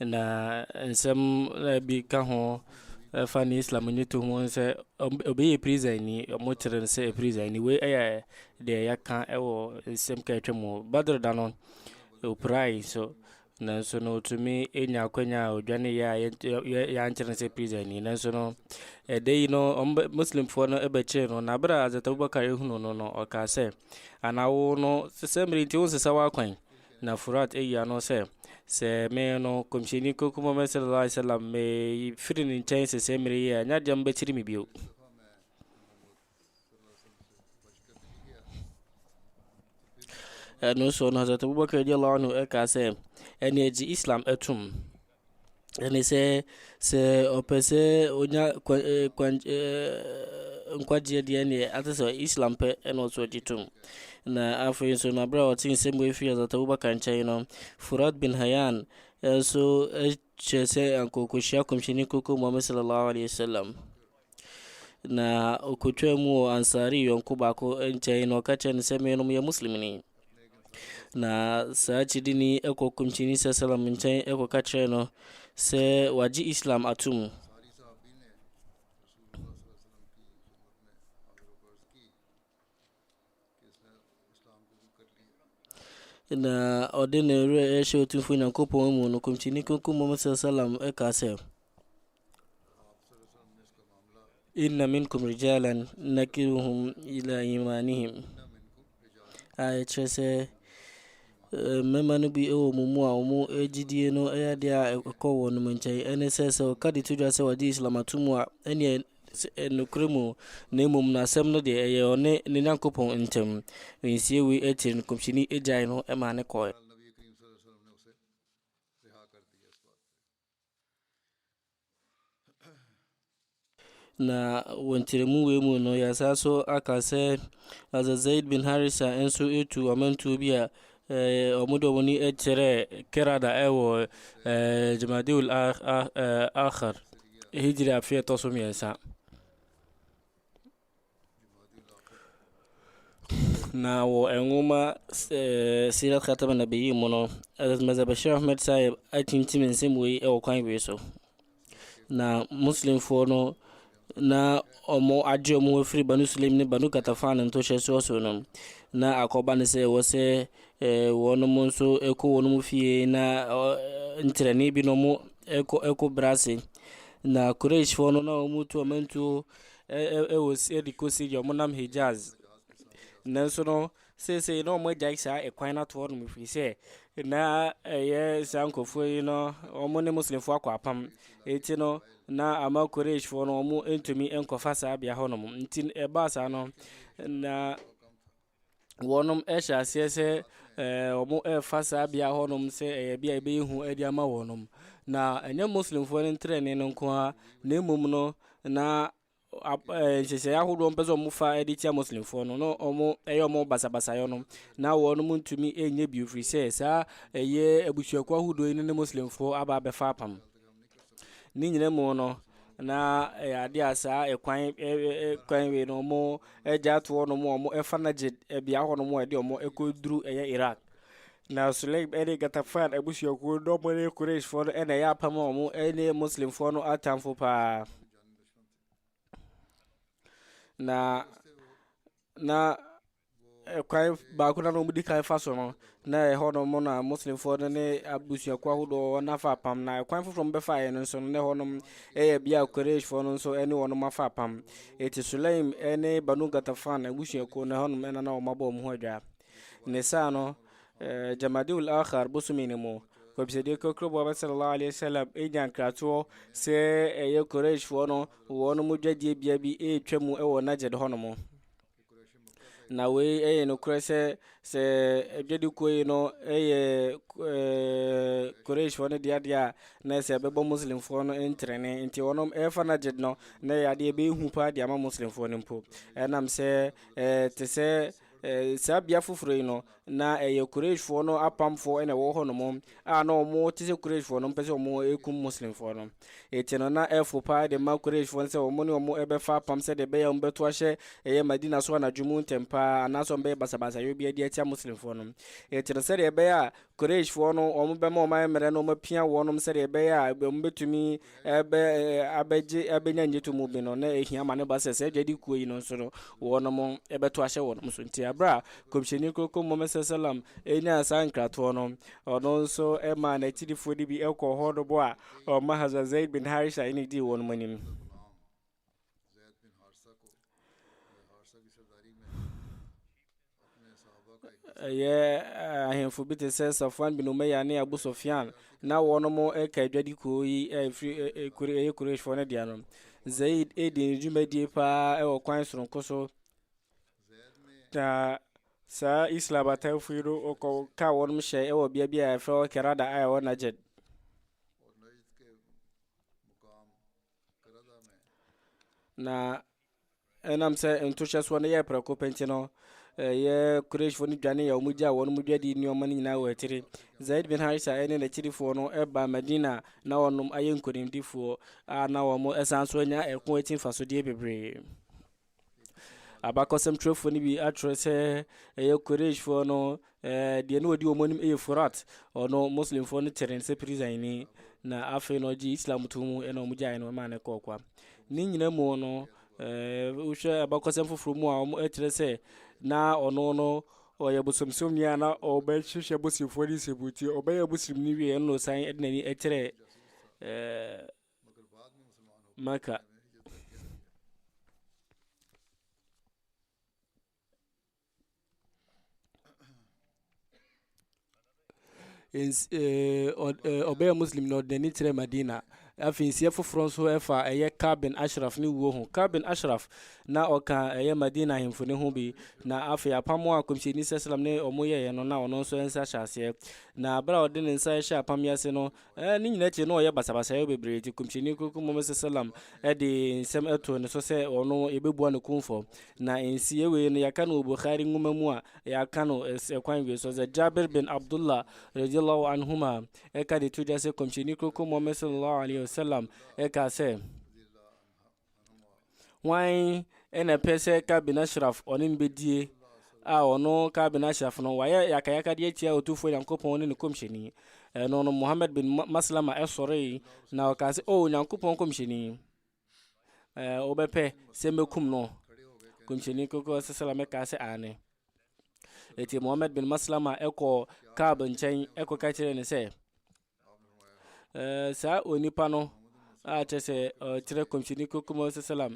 Na nsɛm na bi ka ho ɛfa ne Islam ne to ho sɛ obi yɛ prisani wɔn kyerɛ no sɛ prisani wei ɛyɛ deɛ yɛaka ɛwɔ nsɛm ka atwa mu Badr da no opirae so nanso no otumi enya akwanya a odwane yɛ a yɛankyerɛ no sɛ prisani nanso no ɛda yi no wɔn Muslimfoɔ no ɛbɛkyee no na abira Hazrat Abubakar ehunu no no ɔkaa sɛ Anaa wo no, sɛ mmere nti wonsesa w'akwan? Na Furat ayi ano sɛ, Sɛ me no, Kɔmhyɛni Kronkron Muhammad sallallahu alaihi wasallam, mefiri ne nkyɛn sese mmere yi a, ɛnyɛ adeɛ a mobɛkyere me bio. ɛno so no Hazrat Abubakar radiallahu anhu ɛkaa sɛ ɛne agye Islam atum Ɛne sɛ, sɛ ɔpɛ sɛ ɔnya kwan ɛɛ kwan ɛɛ nkwagyeɛ deɛ ɛneɛ ate sɛ Islam pɛ ɛna ɔsɛ ɔgye tom. Na afei nso na berɛ a ɔte nsɛm wei firi Hazrat Abubakar nkyɛn no, Furat bin Hayyan nso kyerɛ sɛ anka ɔkɔhyia Kɔmhyɛni Kronkron Muhammad Sallallahu Alaihi Wasallam. Na ɔkɔtwaa mu wɔ Ansari yɔnko baako nkyɛn na ɔka kyerɛ no sɛ menom yɛ Muslimni. Na saa kyidini ɛkɔ kɔmkyini sɛ salam nkyɛn ɛkɔka kyerɛ no sɛ wagye Islam atom. Na ɔde ne werɛ rehyɛ Otumfoɔ Nyankopɔn mu no, Kɔmhyɛni Kronkron Muhammad sallallahu alaihi wasallam ɛkaa sɛ, Inna minkum rijalan nakiruhum ila imanihim a ɛkyerɛ sɛ eh, mmarima no bi wɔ mo mu a wɔn gyidie no yɛ adeɛ a ɛkɔ wɔn nkyɛn ɛne sɛ sɛ ɔka de to dwa sɛ wɔde islam ato mu a ɛneɛ Sɛ ɛyɛ nokorɛ mu o, na mmom na asɛm no deɛ ɛyɛ ɔne ne Nyankopɔn ntam. Nsie wei akyiri no Kɔmhyɛni gyaee no maa no kɔɔɛ. Na wɔ nkyerɛmu wei mu no, yɛasan so aka sɛ Hazrat Zaid bin Harisa nso tu ɔmantuo bi a wɔn de wɔn ani kyerɛɛ Kerada ɛwɔ Jamadeul Akhir. Hijri afe a ɛtɔ so mmiɛnsa. Na wɔ nwoma ɛɛ Sirat Khatam Nabiyin mu no, Hazrat Mirza Bashir Ahmed Sahib atintim nsɛm wei wɔ kwan wei so. Na Muslimfoɔ no na wɔn agye wɔn afiri Banu Sulaim ne Banu Katafan ntohyɛsoɔ so no, na akɔba no sɛ ɛwɔ sɛ Eh, wɔnom nso kɔ wɔnom fie na eh, nkyerɛnne bi na wɔn eh, kɔ eh, kɔ brase na kureshfoɔ no na wɔn tu wɔn ntuo eh, eh, eh, de kɔ siri wɔn nam hijaz nanso no seesei na wɔn agyae saa ɛkwan no ato hɔ nom ɛfiri sɛ na ɛyɛ eh, saa nkurɔfoɔ yi no wɔn ne muslimfoɔ akɔ apam ɛti no na ama kureshfoɔ no wɔn ntumi nkɔfa saa bea hɔ nom nti ɛbaa saa no na wɔnom ɛhyɛ aseɛ sɛ ɛɛ wɔn ɛrefa saa bea hɔnom sɛ ɛyɛ bea a ɛbɛyɛ hu ɛde ama wɔnom na ɛnyɛ muslimfoɔ no ntrɛnee no nko ara na mmom no na ɛɛ nhyehyɛeɛ ahodoɔ mpɛ sɛ wɔfa ɛde tia muslimfoɔ no na wɔn ɛyɛ wɔn basabasayɛ no na wɔnom ntumi ɛnyɛ bio firi sɛ saa ɛyɛ abusuakuo ahodoɔ yi ne muslimfoɔ aba abɛfa apam. Ne nyinaa mu no, na ɛyɛ adeɛ a saa ɛkwan ɛkwan wei no wɔn agya ato hɔ nom wɔn ɛfa no gye bea hɔ nom a ɛde wɔn ɛkɔ duru ɛyɛ Iraq na Sulaim ɛne Gatafan abusuakuo no wɔn ne Qurayshfoɔ no ɛna ɛyɛ apam a wɔn ɛne Muslimfoɔ no atamfo paa na na. Ɛkwan baako na wɔn di kan fa so no, na ɛhɔ nom na Muslimfoɔ no ne abusuakuo ahodoɔ wɔn afa apam. Na ɛkwan foforɔ wɔn bɛfa yɛ no nso no, na ɛhɔ nom yɛ bia Qurayshfoɔ no nso ne wɔn afa apam. Eti Sulaim ne Banu Ghatafan abusuakuo no, ɛhɔ nom na na wɔn abɔ wɔn ho adwa. Ne saa no, eh, Jamadiul Akhar bosome no mu, kɔmhyɛdeɛ kɔkɔrɔ Muhammad sallallahu alaihi wasallam nya nkratoɔ sɛ ɛyɛ Qurayshfoɔ no wɔn mu dwadie bea bi retwa mu wɔ Najd hɔ nom. Na wei ɛyɛ nokorɛ sɛ sɛ adwadikuo yi no ɛyɛ Qurayshfoɔ no deɛ adeɛ a na sɛ ɛbɛbɔ Muslimfoɔ no ntrɛne nti wɔnom ɛfa Najd no na ɛyɛ adeɛ ɛbɛyɛ hu paa de ama Muslimfoɔ no mpo ɛnam sɛ ɛte sɛ saa bea foforɔ yi no Ná ɛyɛ Qurayshfoɔ no apamfoɔ na ɛwɔ hɔnom a na wɔte sɛ Qurayshfoɔ no mpɛ sɛ wɔkum Muslimfoɔ no. Enti no na ɛfo paa de ma Qurayshfoɔ no sɛ wɔn ne wɔn bɛfa apam sɛdeɛ ɛbɛyɛ a wɔbɛto ahyɛ ɛyɛ Madina so anadwo mu ntɛm paa anaasɛ wɔbɛyɛ basabasayɔ biara de atia Muslimfoɔ no. Enti no sɛdeɛ ɛbɛyɛ a Qurayshfoɔ no wɔbɛma wɔn ayɛ mmerɛ no wɔapia wɔnom sɛdeɛ ɛbɛyɛ a wɔbɛtumi ɛbɛ abɛgye abɛnya ngyeto mu bi no na ehia ma ne ba sɛ sɛ adwadi kuo yi no nso no wɔnom ɛbɛto ahyɛ wɔnom so nti abere a kɔmhyɛni kroko mmɔmɛ sɛ salam ɛnyaa saa nkratoɔ no ɔno nso ɛmaa n'akyirifoɔ no bi ɛkɔ hɔ no bo a ɔma hazwa zaid bin harisha ɛne dii wɔnom anim Ɛyɛ ahemfo bi te sɛ Safwan bin Umayya ne Abu Sufyan na wɔnom ɛka adwadi kuo yi ɛfiri ɛyɛ Qurayshfoɔ no deɛ no Zaid ɛdi ne dwumadie paa ɛwɔ kwan soronko so na saa Islam atamfo yi no ɔkɔ ka wɔnom hyɛ ɛwɔ bea bi a ɛfrɛ wɔ Kerada a ɛwɔ Najd na ɛnam sɛ ntohyɛ soɔ no yɛ prɛko pɛ nti no ɛyɛ kureshfoɔ no dwane a wɔgya wɔn mu dwadi nneɛma no nyinaa wɔ akyiri zaid bin harisa ne n'akyirifoɔ no ɛba madina na wɔnom ayɛ nkonimdifoɔ a na wɔn ɛsan so anya ɛko akyi mfasodeɛ bebree Abakɔsɛm twerɛfoɔ no bi atwerɛ sɛ ɛyɛ Qurayshfoɔ no deɛ na ɔdi wɔn anim yɛ Furat, ɔno Muslimfoɔ no kyerɛ no sɛ prisani, na afei na ɔgye Islam to mu ɛna wɔn gyae no maa no kɔɔ kwa. Ne nyina mu no, wohwɛ abakɔsɛm foforɔ mu a wɔkyerɛ sɛ na ɔno no ɔyɛ bosomsomni a na ɔbɛhyehyɛ bosimfoɔ ne nsɛmbuti, ɔbɛyɛ bosimni wie ɛna ɔsan de n'ani kyerɛ Maka. ɔbɛyɛ eh, muslim na ɔde n'ani kyerɛ madina afei nsiɛ foforɔ nso ɛfa ɛyɛ kabin ashraf ne wuo ho kabin ashraf na ɔka ɛyɛ madina ahemfo ne ho bi na afei apam a kɔmhyɛni sɛ salam ne ɔmo yɛeɛ no na ɔno nso nsa hyɛ aseɛ na berɛ a ɔde ne nsa hyɛ apam yi ase no Ɛɛ, ne nyinaa akyi na ɔyɛ basabasayɛ bebree nti Kɔmhyɛni Kronkron Muhammad sallam de nsɛm ɛtoo ne so sɛ ɔno yɛbɛbua no kumfɔ. Na nsiiɛ wei no yɛaka no wɔ Bukhari nwoma mu a yɛaka no ɛkwan wei so sɛ Jabir bin Abdullah radiyallahu anhuma ɛka de to dwa sɛ Kɔmhyɛni Kronkron Muhammad sallallahu alaihi wasallam ɛkaa sɛ Hwan na ɛpɛ sɛ Kabin Ashraf ɔne no bɛdie a ɔno Kabin Ashraf no wayɛ yakayakade atia Otumfoɔ Nyankopɔn ne ne kɔmhyɛni. Ɛno no Muhammad bin Maslama ɛsɔree na ɔkaa sɛ, O Nyankopɔn kɔmhyɛni, wobɛpɛ sɛ mɛkum no? Kɔmhyɛni kɔkɔ sɛ sɛla mɛkaa sɛ aane. Ɛti Muhammad bin Maslama ɛkɔ Kaab nkyɛn ɛkɔka kyerɛ ne sɛ, Eh, saa onipa no a kyɛ sɛ ɔkyerɛ kɔmhyɛni kokoma sɛ salam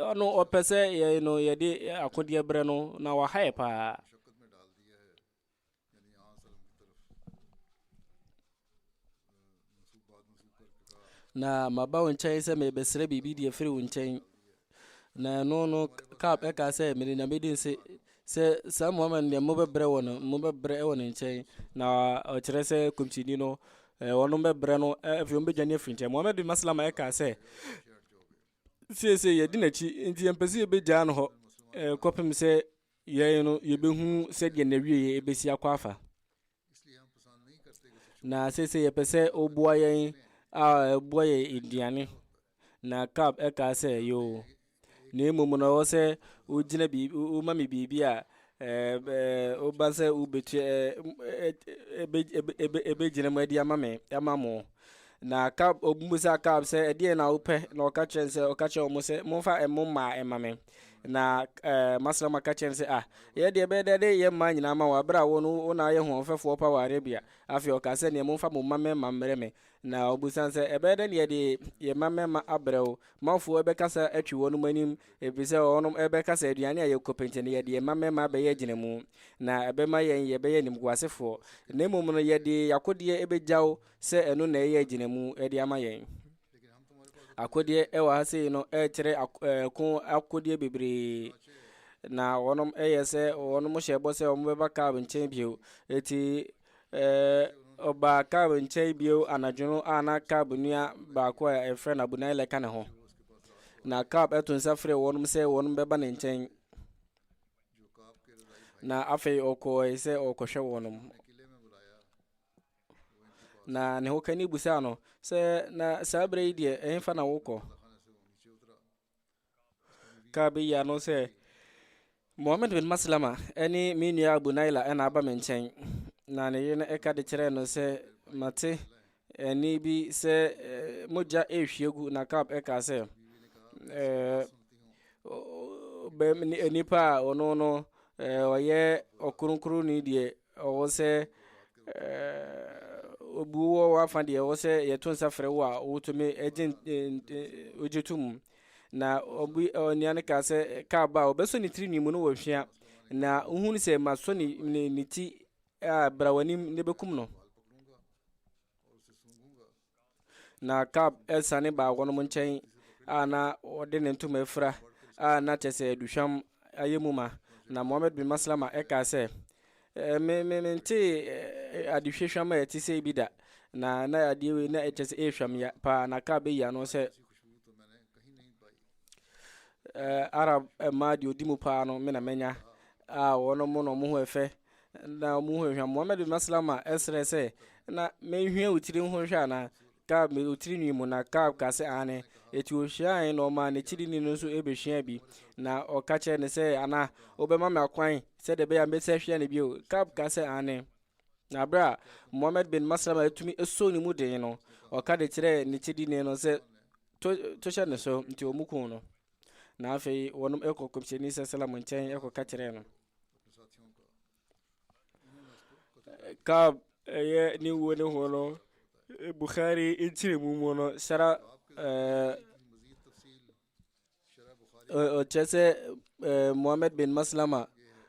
ɔno ɔpɛ sɛ yɛn no yɛde akodeɛ berɛ no na waha yɛ paa na maba wo nkyɛn sɛ mebɛsrɛ biribi deɛ firi wo nkyɛn Na ɛno no Kaab ɛka sɛ mede nyame di nse sɛ saa Muhammad deɛ mobɛbrɛ wɔ no mobɛbrɛ wɔ ne nkyɛn na ɔkyerɛ sɛ kɔmhyɛni no wɔn bɛbrɛ no afei wɔn bɛdwane afiri nkyɛn Muhammad bin Maslama ɛka sɛ siesie yɛdi n'akyi nti yɛmpɛ sɛ yɛbɛgyaa no hɔ kɔpem sɛ yɛn no yɛbɛhunu sɛdeɛ n'awieɛ ɛbɛsi akɔ afa Na seesei yɛpɛ sɛ ɔbua yɛn a ɛbua yɛn aduane. Na Kab ɛkaa sɛ, Yoo, na mmom no ɔwɔ sɛ wogyina biribi, woma me biribi a woba sɛ wobɛtua ɛbɛgyina mu adi ama me, ama mo. Na Akab, wɔbisaa Akab sɛ, ɛdeɛn na wopɛ? Na ɔka kyerɛ sɛ, ɔka kyerɛ wɔn sɛ, momfa mo mmaa ɛma me. Na ɛɛ Maslam aka kyerɛ no sɛ, ah, yɛ deɛ ɛbɛyɛ dɛ de yɛ mmaa nyinaa ma wɔn, abere a wɔn wɔn na ayɛ hoɔfɛfoɔ pa wɔ Arabia. Afei ɔka sɛ, neɛ momfa mo mma mmarima mmerɛ me. Na ɔbisaa sɛ, ɛbɛyɛ dɛ neɛ de yɛ mma mmarima abrɛ wo. Manfoɔ ɛbɛkasa atwi wɔn anim, ɛfiri sɛ wɔn ɛbɛka sɛ aduane a yɛ kɔpɛnti no yɛde yɛ mma mmarima abɛyɛ agyinamu, na ɛbɛma yɛn yɛbɛyɛ animguasefoɔ. Na mmom no yɛde yakodeɛ ɛbɛgya wo. sɛ ɛno na ɛyɛ gyinamu de ama yɛn. Akodeɛ ɛwɔ ha sei no ɛkyerɛ ɛko akodeɛ bebree na wɔnom ɛyɛ sɛ wɔnom hyɛ bɔ sɛ wɔn bɛba kaab nkyɛn bio eti ɛɛ ɔbaa kaab nkyɛn bio anadwo no a na kaab nua baako a ɛfrɛ no abunai lɛka ne ho na kaab ɛto nsa frɛ wɔnom sɛ wɔnom bɛba ne nkyɛn na afei ɔkɔɔe sɛ ɔkɔhwɛ wɔnom Na ne hokani busaa no sɛ, Na saa berɛ yi deɛ, ɛhefa na wokɔ? Kaa bɛyi ano sɛ, Mohammed bin Maslama ne me nua Abu Naila na aba me nkyɛn. Na ne yere no ɛka de kyerɛɛ no sɛ, Mate ɛne bi sɛ eh, mogya ɛrehwie gu. Na Kaab ɛkaa sɛ, eh, nnipa a ɔno no eh, ɔyɛ ɔkronkronni deɛ Ɔwɔ sɛ obi wɔ w'afa deɛ ɔwɔ sɛ yɛto nsa frɛ wo a wotumi gye wogye to mu na obi onua no kaa sɛ kaa ba a ɔbɛsɔ ne tiri nwi mu no wɔhwea na wohunu sɛ masɔ ne ne ne ti a bra w'anim ne bɛkum no Na Kab siane baa wɔnom nkyɛn a na ɔde ne ntoma afira a na kyɛ sɛ aduhwam ayɛ mu ma, na Mohammed bin Maslama kaa sɛ, me me mentee adehwe hwam a ɛte sɛ bi da, na na adeɛ wei na ɛkyɛ sɛ ɛyɛ hwam ya paa, na Kab ayi ano sɛ, Eh, Arab mmaa deɛ ɔdi mu paa no me na manya a wɔn mo na wɔn ho ɛfɛ na wɔn ho ɛhwa Muhammad bin Maslama ɛsrɛ sɛ na mehwɛ wo tiri ho hwɛ anaa Kaab me wo tiri nwi mu na Kaab ka sɛ aane eti ohwiae na ɔmaa n'akyiri ni no nso ebehwia bi na ɔka kyerɛ ne sɛ ana wobɛma me akwan sɛ de bɛyɛ a mbɛsɛ hwia ne bio Kaab ka sɛ aane na abere a Muhammad bin Maslama atumi esɔ ne mu den no ɔka de kyerɛ ne kyiri ni no sɛ to, to hyɛ ne so, nti wɔn kun no. Na afei wɔn kɔ kɔmhyɛni sɛsɛlam nkyɛn ɛkɔ ka kyerɛ no. Kaab ɛyɛ ne wuo ne ho no, Bukhari nkyerɛmu mu no, sara ɛɛ. ɔkyerɛ sɛ eh, mohammed bin maslama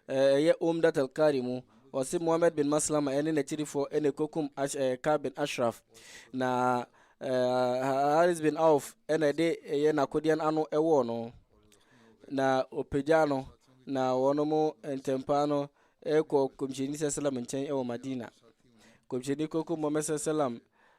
eh, ɛyɛ omdat alkari mu ɔse mohammed bin maslama ɛne n'akyirifoɔ ɛne kɔkum eh, ka bin ashraf na haris bin auf ɛna ɛde ɛyɛ n'akodeɛ no ano ɛwɔɔ no na ɔpagyaa no na wɔn mo ntɛmpaa no ɛkɔ kɔmhyɛni sɛ salam nkyɛn ɛwɔ madina kɔmhyɛni kɔkum mohammed sɛ salam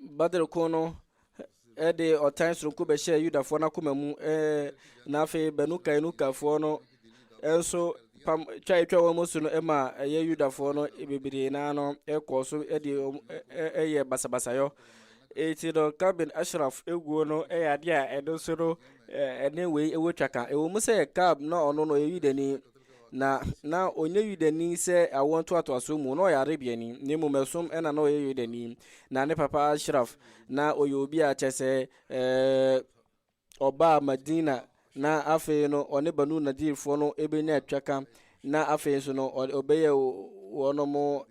badr ko no de ɔtan soronko bɛhyɛɛ yudafoɔ no akoma mu na afei banu kainukafoɔ no nso pam twa atwa wɔn mu so no ma ɛyɛ yudafoɔ no bebree naa no kɔɔ so de ɛyɛ basabasayɔ eti no kabin ashraf eguo no yɛ adeɛ a ɛno nso no ɛne wei ɛwɔ twa ka ɛwɔ mu sɛ kab na ɔno no ɛyɛ yudani Na na ɔnyɛ Yudani sɛ awoɔ ntoatoasoɔ mu, na ɔyɛ Arabiani, na mmom ɛsom ɛna na ɔyɛ Yudani. Na ne papa Ashraf, na ɔyɛ obi a kyɛ sɛ ɔbaa Madina, na afei no ɔne Banu Nadirfoɔ no ɛbɛnya atwaka, na afei nso no ɔbɛyɛ wɔnom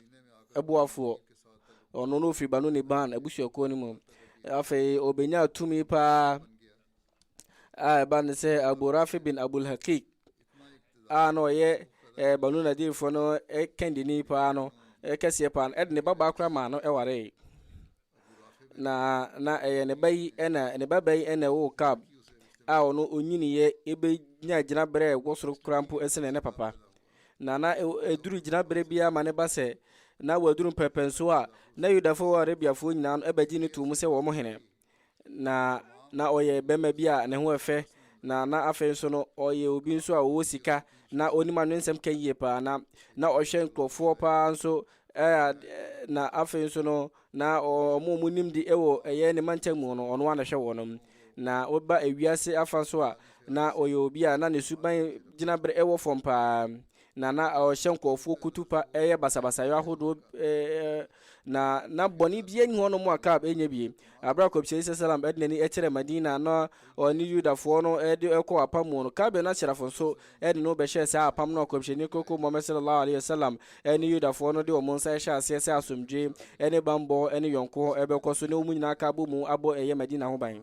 ɛboafoɔ. Ɔno no ɔfiri Banu Niban abusuakuo no mu. Afei ɔbɛnya tumi paa. a ɛba ne sɛ abu rafi bin abul hakik a na ɔyɛ eh, banu nadirfoɔ no eh, kɛndini paa no eh, kɛseɛ paa no ɛde ne ba baa kora maa no ɛwaree na na ɛyɛ ne ba yi ɛna ne ba ba yi ɛna ɛwɔ kab a ɔno ɔnyiniiɛ ɛbɛnya gyina berɛ a ɛwɔ soro kora mpo ɛsene ne papa na na ɛduru gyina berɛ biara ma ne ba sɛ na waduru mpɛpɛnso a na yudafoɔ wɔ arabiafoɔ nyinaa no ɛbɛgye ne too mu sɛ wɔn hene na na ɔyɛ bɛrima bi a ne ho yɛ fɛ na na afei nso no ɔyɛ obi nso a ɔwɔ sika na ɔnim anwensɛm ka yie paa na na ɔhwɛ nkurɔfoɔ paa nso na afei nso no na ɔmo ɔmo nim di ɛwɔ ɛyɛ ne mantam mu no ɔno ana hwɛ wɔn na ɔba ewiase afa so a na ɔyɛ obi a na ne suban gyina bere ɛwɔ fam paa na na ɔhyɛ nkurɔfoɔ kutupa yɛ basabasayɔ ahodoɔ na na bɔne bia nni hɔ no mu a Kaab ɛnyɛ bie aberɛ a kɔmhyɛni sɛ salam ɛde n'ani ɛkyerɛ Madina na ɔne Yudafoɔ no ɛde ɛkɔ apam mu no Kaab na serafo nso ɛde no bɛhyɛ saa apam no a kɔmhyɛni koko Muhammad sallallahu alaihi wasallam ɛne Yudafoɔ no de wɔn nsa ɛhyɛ aseɛ sɛ asomdwe ɛne bambɔ ɛne yɔnko hɔ ɛbɛkɔ so na wɔn nyinaa ka abɔ mu abɔ ɛyɛ Madina ho ban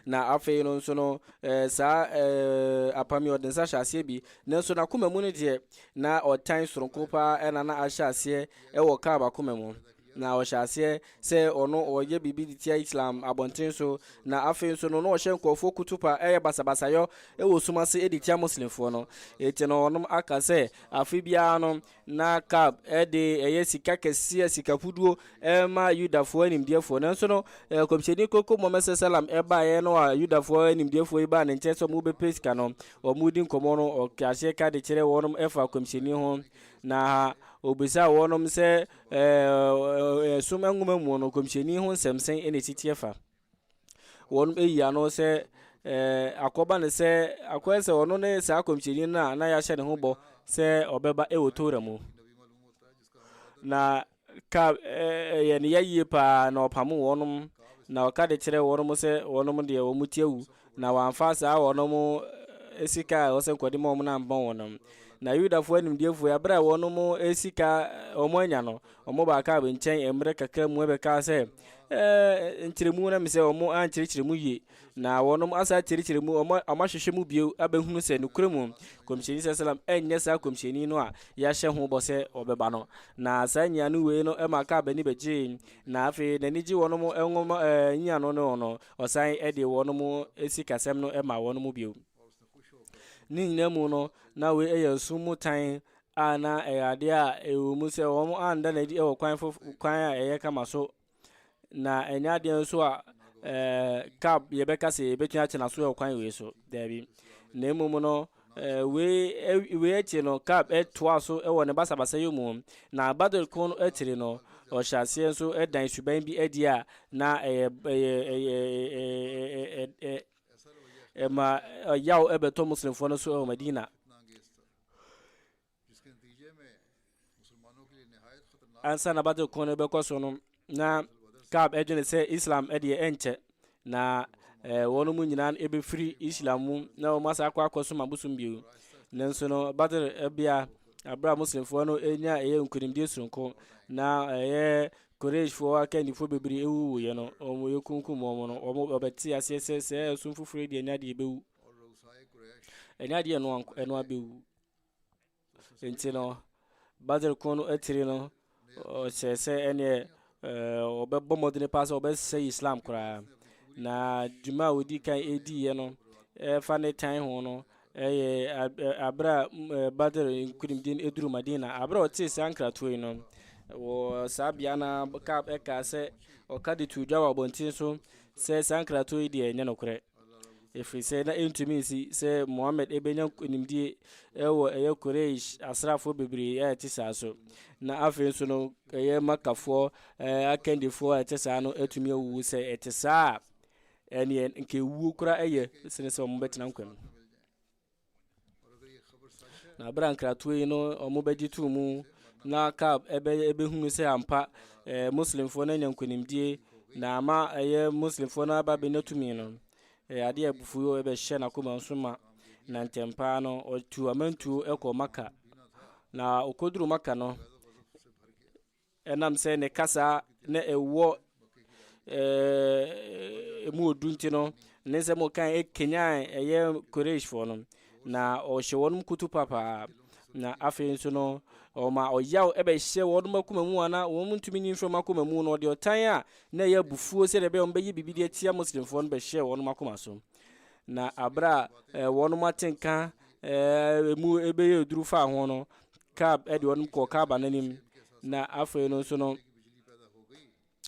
Na afei no nso no, eh, saa eh, apam yi ɔde nsa hyɛ aseɛ bi, nanso n'akoma mu no deɛ na ɔtan soronko paa ɛna na ahyɛ aseɛ ɛwɔ Kaab akoma mu. Na ɔhyɛ aseɛ sɛ ɔno ɔyɛ biribi de tia Islam abɔnten so, na afei nso no na ɔhyɛ nkurɔfoɔ kutupa ɛyɛ basabasayɔ ɛwɔ sum ase ɛde tia Muslimfoɔ no. Eti no ɔnom aka sɛ afe biara no Ná Kab de ɛyɛ sika kɛseɛ, sika fuduo, rema Yudafoɔ animdeɛfoɔ. Nanso no, nkɔmhyɛni Koko Mohammed Sasalam baeɛ no a Yudafoɔ animdeɛfoɔ yi baa ne nkyɛn sɛ wɔbɛpɛ sika no, wɔredi nkɔmmɔ no, ɔtwe aseɛ ka de kyerɛ wɔn ɛfa nkɔmhyɛni ho. Na ɔbisaa wɔn sɛ, Ɛɛ, Ɛsom Nwoma mu no, nkɔmhyɛni ho nsɛm sɛn na ɛsiteɛ fa? wɔn ayi ano sɛ ɛɛ akɔba no sɛ akɔyɛ sɛ ɔno ne saa akɔmhyɛni no a na yɛahyɛ ne ho bɔ sɛ ɔbɛba ɛwɔ tora mu na ka ɛyɛ ne yɛyie paa na ɔpamo wɔnom na ɔka de kyerɛ wɔnom sɛ wɔnom deɛ wɔn ti awu Na wɔamfa saa wɔnom sika a ɛwɔ sɛ nkɔde ma wɔn no ammɔ wɔnom. Na Yudafoɔ animdeɛfoɔ yi, berɛ a wɔnom sika wɔn anya no, wɔn baa Kaab nkyɛn mmerɛ kakra mu bɛkaa sɛ, Ɛɛ, nkyerɛmu na me sɛ wɔn ankyerɛkyerɛ mu yie, na wɔnom asa akyerɛkyerɛ mu, wɔn ahwehwɛ mu bio abɛhunu sɛ nokorɛ mu Kɔmhyɛni sɛ salam ɛnyɛ saa Kɔmhyɛni no a yɛahyɛ ho bɔ sɛ ɔbɛba no. Na saa nyiano wei no ɛma Kaab ani bɛgyee, na afei n'ani gye wɔnom nwoma nyiano no ho no, Ɔsan de wɔnom sikasɛm no maa wɔnom bio. Ne nyinaa mu no, na wei yɛ nsom mu tan a na ɛyɛ adeɛ a ɛwɔ mu sɛ wɔn anda no adi wɔ kwan fof kwan a ɛyɛ kama so. Na ɛnyɛ adeɛ nso a ɛɛ kab yɛbɛka sɛ yɛbɛtumi akyena so wɔ kwan wei so. Daabi. Na mmom no, Wei akyi no, Kab toaa so wɔ ne basabasayɛ mu, na battle ko no akyiri no, ɔhyɛ aseɛ nso dan suban bi adi a na ɛma yaw bɛtɔ Muslimfoɔ no so wɔ Madina. Ansa na Badr ko no rebɛkɔ so no, na Ka'b adwene sɛ Islam deɛ ɛnkyɛ na eh, wɔn mu nyinaa ɛbɛfiri Islam mu na wɔn asa akɔ akɔsom abosom bio. Nanso no, Badr bea abere a Muslimfoɔ no nya ɛyɛ nkonimdie soronko na ɛyɛ Qurayshfoɔ akandifoɔ bebree ɛwuwuiɛ no, wɔn yɛkunkum wɔn no, wɔn wɔbɛte aseɛ sɛ sɛ ɛsom foforɔ deɛ ɛnyɛ adeɛ ɛbɛwu, ɛnyɛ adeɛ ɛnoa ɛnoa bɛwu. nti no badr ko no atiri no ɔkyerɛ sɛ ɛneɛ ɔbɛbɔ mmɔdene paa sɛ ɔbɛsɛ islam koraa na dwuma a ɔdi kan ɛdiiɛ no ɛfa ne tan ho no ɛyɛ aberɛ a badr nkurimdin ɛduru madina aberɛ a ɔtee saa nkratoɔ yi no wɔ saa bea no ɛkaa sɛ ɔka de to dwa wɔ abɔnten so sɛ saa nkratoɔ yi deɛ ɛnyɛ nokorɛ ɛfiri sɛ na ɛntumi nsi sɛ mohammed ɛbɛnya nimdie ɛwɔ ɛyɛ quraish asraafoɔ bebree a ɛte saa so na afei nso no ɛyɛ makafoɔ eh, akandifoɔ a ɛte saa no atumi awuwu sɛ ɛte saa a ɛneɛ nka ɛwuo kora ɛyɛ sene sɛ wɔbɛtena nkwa mu Na berɛ a nkratoɔ yi no wɔbɛgye too mu na Kaab ɛbɛhunu sɛ ampa eh, Muslimfoɔ no anya nkonimdie na ama ɛyɛ eh, Muslimfoɔ no aba bɛnya tumi no eh, adeɛ a abufuo ɛbɛhyɛ n'akoma nso ma na ntɛm paa no ɔtu amantuo ɛkɔ Maka na ɔkɔduru Maka no Ɛnam sɛ ne kasa na ɛwɔ ɛmu odu nti no, ne nsɛm ɔkan ɛkanyan ɛyɛ Qurayshfoɔ no, na ɔhyɛ wɔn kutu papaa. Na afei nso no, ɔma ɔyaw ɛbɛhyɛ wɔn akoma mu a na wɔn ntumi nyi mfiri wɔn akoma mu no, ɔde ɔtan a na ɛyɛ abufuo sɛdeɛ ɛbɛyɛ wɔn bɛyɛ biribi de atia Muslimfoɔ no bɛhyɛɛ wɔn akoma so. Na abere a eh, wɔn ate nka eh, emu ebɛyɛ aduru faa ho no kaab eh, de wɔn kɔɔ kaaba no anim na afei no nso no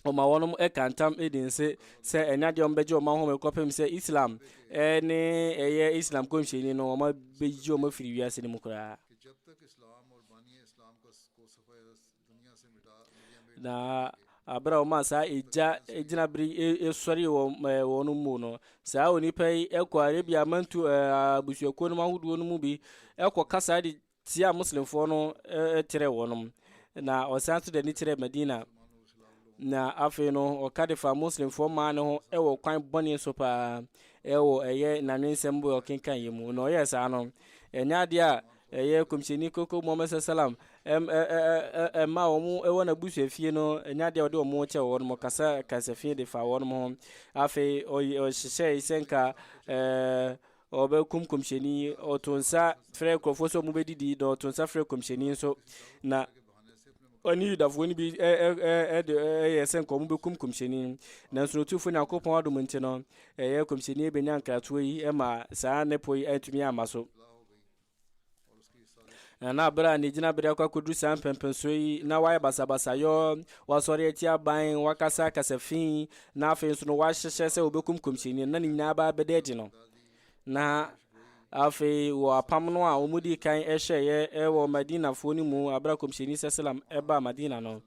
ɔma wɔn ɛka ntam ɛdi nse sɛ ɛnya deɛ ɔmbɛgye ɔma home kɔpem sɛ islam ɛne ɛyɛ islam kɔmhyɛni no ɔma bɛgye ɔma firi wiase no mu koraa Na bere a wɔmaa saa egya gyinabere sɔree wɔn ɛɛ wɔn mu no saa onipa yi kɔ arabia amantu ɛɛ abusuakuo no ahodoɔ no mu bi kɔ kasa de tia muslimfoɔ no kyerɛ wɔn na ɔsan nso de ani kyerɛ madina na afei no ɔka de fa muslimfoɔ maa ne ho wɔ kwan bɔne so paa ɛwɔ ɛyɛ nanwensɛm bɔ ɔkenkan yɛ mu na ɔyɛ saa no ɛnyɛ adeɛ a Ɛyɛ Kɔmhyɛni Koko Muhammad Sala Salam mma a wɔwɔ n'abusuafie no nya adeɛ a wɔde wɔn kyɛ wɔn mo kasa kasafi de fa wɔn ho. Afei ɔhyehyɛe sɛ nka ɔbɛkum kɔmhyɛni ɔto nsa frɛ nkurɔfoɔ sɛ wɔbɛdidi na ɔto nsa frɛ kɔmhyɛni nso na ɔne yudafoɔ no bi yɛ sɛ nka wɔbɛkum kɔmhyɛni nanso no ɔtumfoɔ nyankopɔn adom nti no ɛyɛ kɔmhyɛni bɛnya nkratoɔ yi ma saa ne po yi antumi amma so Na na bere a ne gyinabere akɔ akɔduru saa mpɛmpɛnsoɔ yi na wayɛ basabasayɔ wasɔre atia aban wakasa akasa fi na afei nso no wahyehyɛ sɛ wɔbɛkum kɔmhyɛni na ne nyinaa baa bɛda adi no na afei wɔ apam no a wɔmudi kan ɛhyɛeɛ wɔ madinafoɔ no mu abere a kɔmhyɛni sɛ salam ɛbaa madina no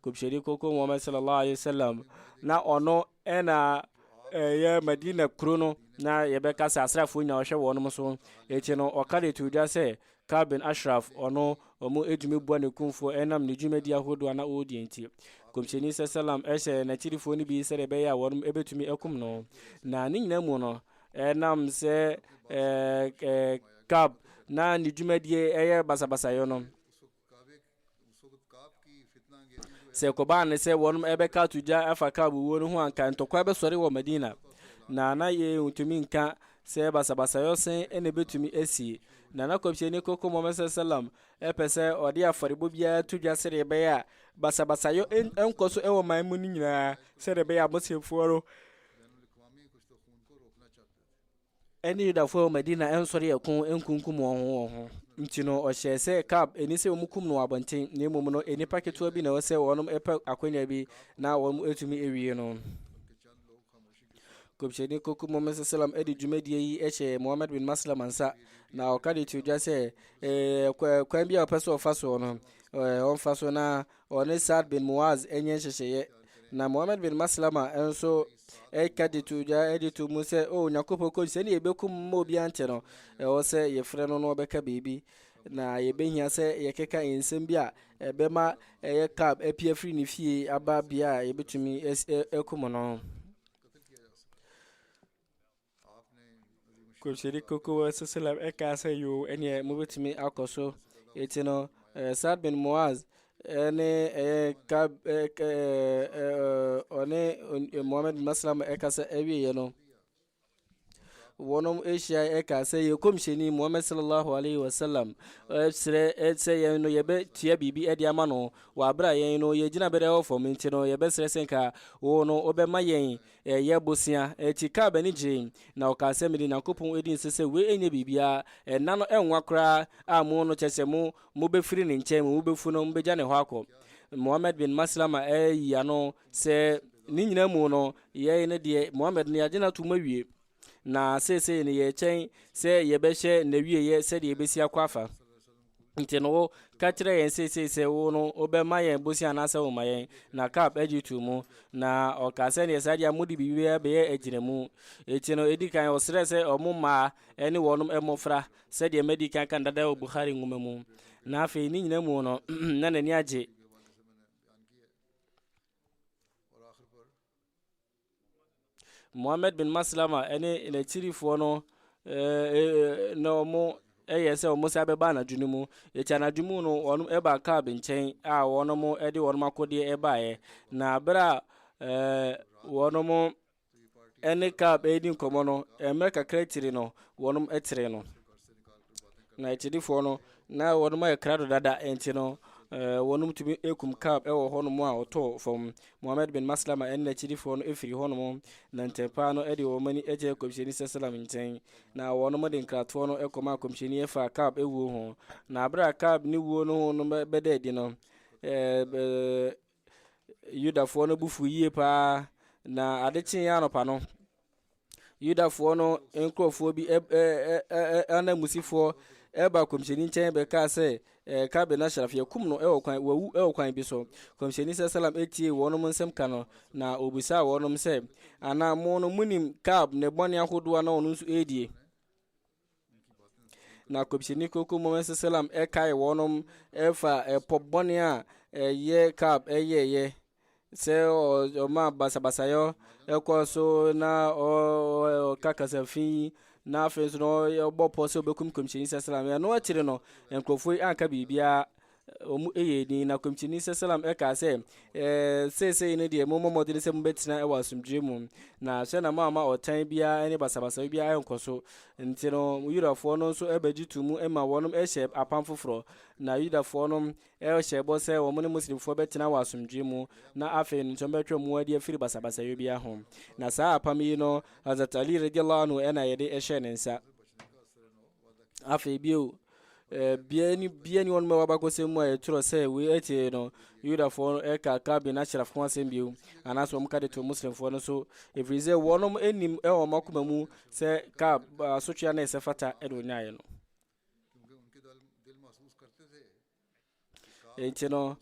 kɔmhyɛni koko muhammad sallallahu alaihi wasallam na ɔno Ɛna ɛyɛ Madina kuro no na yɛbɛka sɛ asraafoɔ nyinaa ɔhwɛ wɔn nom so. Akyi no ɔka de too dwa sɛ Ka'b bin Ashraf ɔno ɔmo ɛtumi boa ne kumfoɔ ɛnam ne dwumadie ahodoɔ a na ɔɔdi nti. Nkɔmhyɛni sasalam ɛhyɛɛ n'akyirifoɔ no bi sɛdeɛ ɛbɛyɛ a wɔnom ɛbɛtumi akum no. Na ne nyinaa mu no ɛnam sɛ Ka'b na ne dwumadie ɛyɛ basabasayɔ no, Sɛ ɛkɔbaa no sɛ wɔnom ɛbɛka ato gya afa Ka'b wuo no ho anka ntɔkwa bɛsɔre wɔ Madina, na na yei ntumi nka sɛ basabasayɔ sɛn na ɛbɛtumi asi. Na na Kɔmhyɛni Kronkron Muhammad Sallallahu Alaihi Wasallam ɛpɛ sɛ ɔde afɔrebɔ biara to dwa sɛdeɛ ɛbɛyɛ a basabasayɔ ɛnkɔ so ɛwɔ man mu no nyinaa sɛdeɛ ɛbɛyɛ a Muslimfoɔ no ɛne Yudafoɔ a ɛwɔ Madina nsɔre ɛko nkunkum wɔn ho wɔn ho. Nti no, ɔhyɛɛ sɛ Ka'b ɛni sɛ wɔn kum no wɔ abɔnten, na mmom no, nnipa ketewa bi na ɛwɔ sɛ wɔn pɛ akwanya bi na wɔn atumi awie no. Kɔmhyɛni Kɔku Muhammad sallam de dwumadie yi hyɛɛ Muhammad bin Maslama nsa, na ɔka de to dwa sɛ kwan bi a ɔpɛ sɛ ɔfa soɔ no, ɔmfa so na Ɔne Sa'd bin Mu'az nyɛ nhyehyɛeɛ, na Muhammad bin Maslama nso ɛka de to dwa de to mu sɛ, o Onyankopɔn kɔn sɛ ne yɛbɛkum mma obiara nkyɛ no, ɛwɔ sɛ yɛfrɛ no na ɔbɛka biribi, na yɛbɛhia sɛ yɛkeka nsɛm bi a ɛbɛma ɛyɛ Ka'b api afiri ne fie aba bea a yɛbɛtumi akum no. Kɔmhyɛni Kronkron Sallam ɛkaa sɛ yoo ɛneɛ mobɛtumi akɔ so ɛti no Saad bin Muaz ɛne ɛyɛ ka ɔne Muhammad bin Maslam ɛka sɛ ɛwieɛ no wɔnom ahyia ɛka sɛ yɛ kɔmhyɛni Muhammad sallallahu alaihi wasallam ɛsrɛ sɛ yɛn no yɛbɛtua biribi ɛde ama no wɔ aberɛ a yɛn no yɛgyina bɛdɛ wɔ fam nti no yɛbɛsrɛ sɛ nka wo no wobɛma yɛn Ɛyɛ bosea akyi kaa b'ani gyei, na ɔkaa sɛ, Mede Nyankopɔn di nse sɛ wei nyɛ biribiara, nna no nwa koraa a mo no, kyerɛ sɛ mo, mobɛfiri ne nkyɛn, mo mu bɛfu no, mobɛgya ne hɔ akɔ. Muhammad bin Maslama ayi ano sɛ, Ne nyinaa mu no, yɛn no deɛ, Muhammad no, yɛagye no atom awie. Na seesei no yɛkyɛn sɛ yɛbɛhyɛ n'awieɛ sɛdeɛ yɛbɛsi akɔ afa. Nti no wo ka kyerɛ yɛn seesei sɛ wo no wobɛma yɛn bosia anaasɛ woma yɛn. Na Kap agye too mu. Na ɔkaa sɛ neɛ saa deɛ a mode biribiara bɛyɛ agyinamu. Nti no ɛdi kan ɔsrɛɛ sɛ ɔmo mmaa ne wɔnom mmɔfra sɛdeɛ madi kan aka no dada wɔ Bukhari nwoma mu. Na afei ne nyina mu no na n'ani agye. Mohammed bin Maslama ne n'akyirifoɔ no na wɔn yɛ sɛ wɔn san bɛba anadwo no mu eti anadwo mu no wɔn ba Kaab nkyɛn a wɔn de wɔn akodeɛ ɛbaeɛ na abere a wɔn ne Kaab ɛredi nkɔmɔ no mmerɛ kakra akyiri no wɔn ɛtere no. na akyirifoɔ no na wɔn ayɛ krado dada nti no eh, wɔn tumi kum kab wɔ hɔnom a ɔtɔɔ fam mohammed bin maslama ɛne n'akyirifoɔ no ɛfiri hɔnom na ntɛmpaa no ɛde wɔn ani ɛkyɛ kɔmhyɛni sɛ salam nkyɛn na wɔn de nkratoɔ no ɛkɔma a kɔmhyɛni ɛfa kab ɛwuo ho na abere a kab ne wuo no ho no bɛda adi no eh, eh, Yudafoɔ no bo fuu yie paa, na ade kyeeɛ anɔpa no, Yudafoɔ no nkurɔfoɔ bi ɛ- ɛ- ɛ- ɛ- ɛ- ananmusifoɔ ɛba kɔmhyɛni nkyɛn bɛkaa sɛ eh, Kabe no Ashraf yɛkum no ɛwɔ kwan wawu ɛwɔ kwan bi so. Kɔmhyɛni sɛ salam ɛtiee wɔnom nsɛm ka no, na ɔbisaa wɔnom sɛ, Anaa mo no monim Kab ne bɔne ahodoɔ a na ɔno nso ɛredie? na kɔmhyɛni koko muhammad sallam ɛkae wɔnom ɛfa ɛpɔ bɔne a ɛyɛ kab ɛyɛɛyɛ sɛ ɔma basabasayɔ ɛkɔ so na ɔka kasafi na afei nso na ɔbɔ pɔ sɛ ɔbɛkum kɔmhyɛni sallam ɛno akyiri no nkurɔfoɔ yi anka biribiara Wɔyɛɛ din, na komkyini Sesalam kaa sɛ, Seesei no deɛ, mommɔ mmɔden sɛ mobɛtena wɔ asomdwoeɛ mu, na hwɛ na moamma ɔtan biara ne basabasayɛ biara ankɔ so. Nti no, Yudafoɔ no nso bɛgye to mu ma wɔnom hyɛ apam foforɔ, na Yudafoɔ no hyɛ bɔ sɛ wɔn ne Muslimfoɔ bɛtena wɔ asomdwoeɛ mu, na afei no nso wɔbɛtwe wɔn adi afiri basabasayɛ biara ho. Na saa apam yi no, Hazrat Ali, radiya Allahu anhu, na yɛde hyɛɛ ne nsa. afei bio bia ni bia ni wɔn mɛwɔ abakɔsɛm mu a yɛtwerɛ sɛ wei akyire no yudafoɔ no ɛka kabin ashraf ho asɛm bio anaasɛ wɔn ka de to muslimfoɔ no so ɛfiri sɛ wɔnom anim ɛwɔ wɔn akoma mu sɛ ka asotwea na ɛsɛ fata ɛde ɔnyaeɛ no Enti no,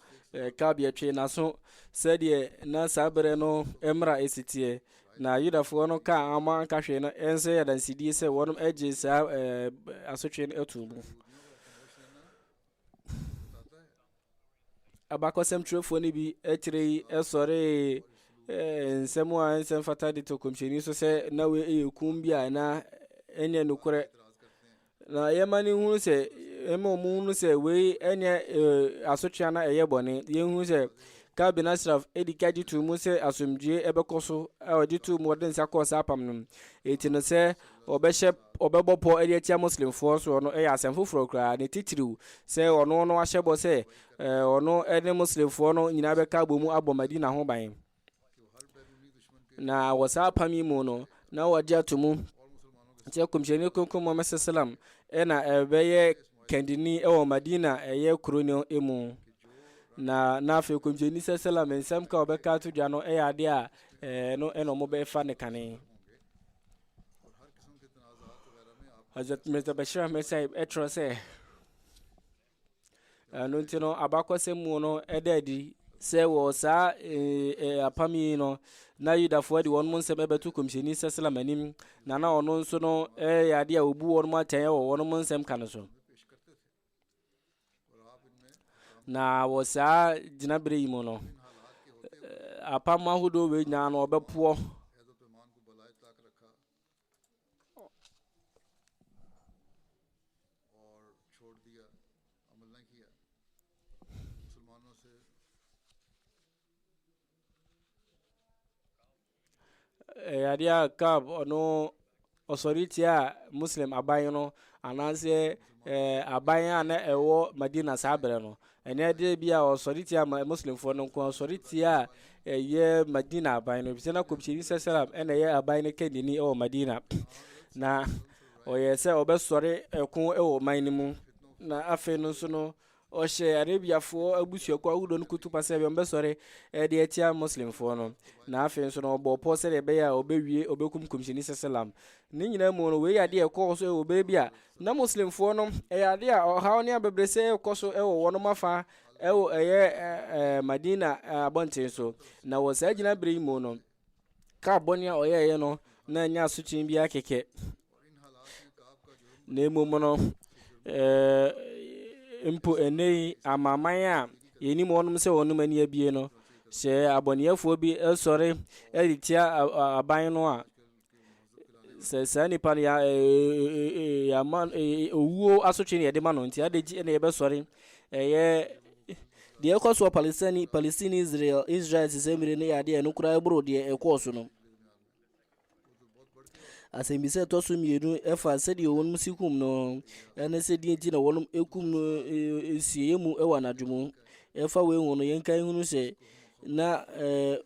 kabea twee n'aso sɛdeɛ na saa berɛ no mmara si teɛ, na Yudafoɔ no kaa a wɔn anka hwee no nso yɛ adansedie sɛ wɔn agye saa asotwe no ato mu. Abakɔsɛm twerɛfoɔ no bi akyire yi sɔree nsɛm a nsɛm fata de to kɔmhyɛni so sɛ na wei yɛ kum bi a na ɛnyɛ nokorɛ na yɛma no hunu sɛ ɛma ɔmo hunu sɛ wei ɛnyɛ asotwea na ɛyɛ bɔne yɛhunu sɛ Ka'b bin Ashraf edi ka gye too mu sɛ asomdwoe ɛbɛkɔ so a ɔgye too mu ɔde nsa kɔɔ saa apam no mu eti no sɛ ɔbɛhyɛ ɔbɛbɔ pɔ ɛde atia muslimfoɔ soɔ no ɛyɛ asɛm foforɔ koraa ne titiriw sɛ ɔno no ahyɛ bɔ sɛ ɔno ɛne muslimfoɔ no nyinaa bɛka abɔ mu abɔ Madina ho ban na wɔ saa apam yi mu no na wɔgye ato mu sɛ kɔmhyɛni kronkron muhammad sallam ɛna ɛbɛyɛ kandini ɛwɔ madina ɛyɛ kuro no mu na na afei kɔmhyɛni sɛ sallam nsɛm ka ɔbɛka to dwa no ɛyɛ adeɛ a ɛɛ no ɛna wɔn bɛfa ne kane Hazrat Mirza Bashir Ahmed Sahib ɛtwerɛ sɛ Ɛno nti no, abakɔsɛm mu no ɛda adi sɛ wɔ saa apam yi no na Yudafoɔ de wɔn nsɛm ɛbɛto kɔmhyɛni Sɛslam anim na na ɔno nso no ɛyɛ adeɛ a ɔbu wɔn atɛn wɔ wɔn nsɛm ka no so. Na wɔ saa gyinaberɛ yi mu no, apam ahodoɔ wei nyinaa no ɔbɛpoɔ. Eh, adeɛ a cab ɔno ɔsɔre tia muslim aban no anaasɛ eh, aban a na ɛwɔ madina saa berɛ no Ɛnnɛ de bi a ɔsɔretia ma Muslimfoɔ no nko ɔsɔretia a ɛyɛ Madina aban no efisɛ na kɔmhyɛni sɛsɛlam ɛna ɛyɛ aban no kɛndini ɛwɔ Madina na ɔyɛ sɛ ɔbɛsɔre ɛko ɛwɔ ɔman no mu na afei no nso no ɔhyɛ Arabiafoɔ abusuakuo ahodoɔ no kutupa sɛ ɛbɛn bɛsɔre ɛde atia Muslimfoɔ no na afei nso no ɔbɔ pɔ sɛdeɛ ɛbɛyɛ a ɔbɛwie ɔbɛkum kɔmhyɛni sɛsɛlam ne nyinaa mu no wei adeɛ ɛkɔɔ so ɛwɔ bere bi a Na Muslimfoɔ no, ɛyɛ adeɛ a ɔhaw ne abɛbrɛsɛ rekɔ so wɔ wɔnom afa wɔ ɛyɛ Madina abɔnten so. Na wɔ saa gyinaberɛ yi mu no, Ka'b bɔne a ɔyɛeɛ no na ɛnyɛ asotwe biara kɛkɛ. Na mmom no, ɛɛ, mpo ɛnɛ yi amaman a yɛnim wɔnom sɛ wɔnom ani abie no, sɛ abɔneɛfoɔ bi sɔre de tia aban no a, sɛ saa nipa no ya ɛɛ ɛɛ yama ɛɛ owuo asotwe na yɛde ma no nti adagyi ɛna yɛbɛsɔre ɛyɛ deɛ ɛkɔ soɔ palestine palestine israel israel sisɛ mmiri no yɛ adeɛ a ɛno koraa ɛboro deɛ ɛkɔɔ so no asɛmbisa a ɛtɔ so mmienu ɛfa sɛdeɛ wɔn si kum no ɛne sɛ deɛ nti na wɔn kum no ɛɛ ɛsieɛ mu ɛwɔ anadwo mu ɛfa wei ho no yɛnka ehunu sɛ na ɛɛ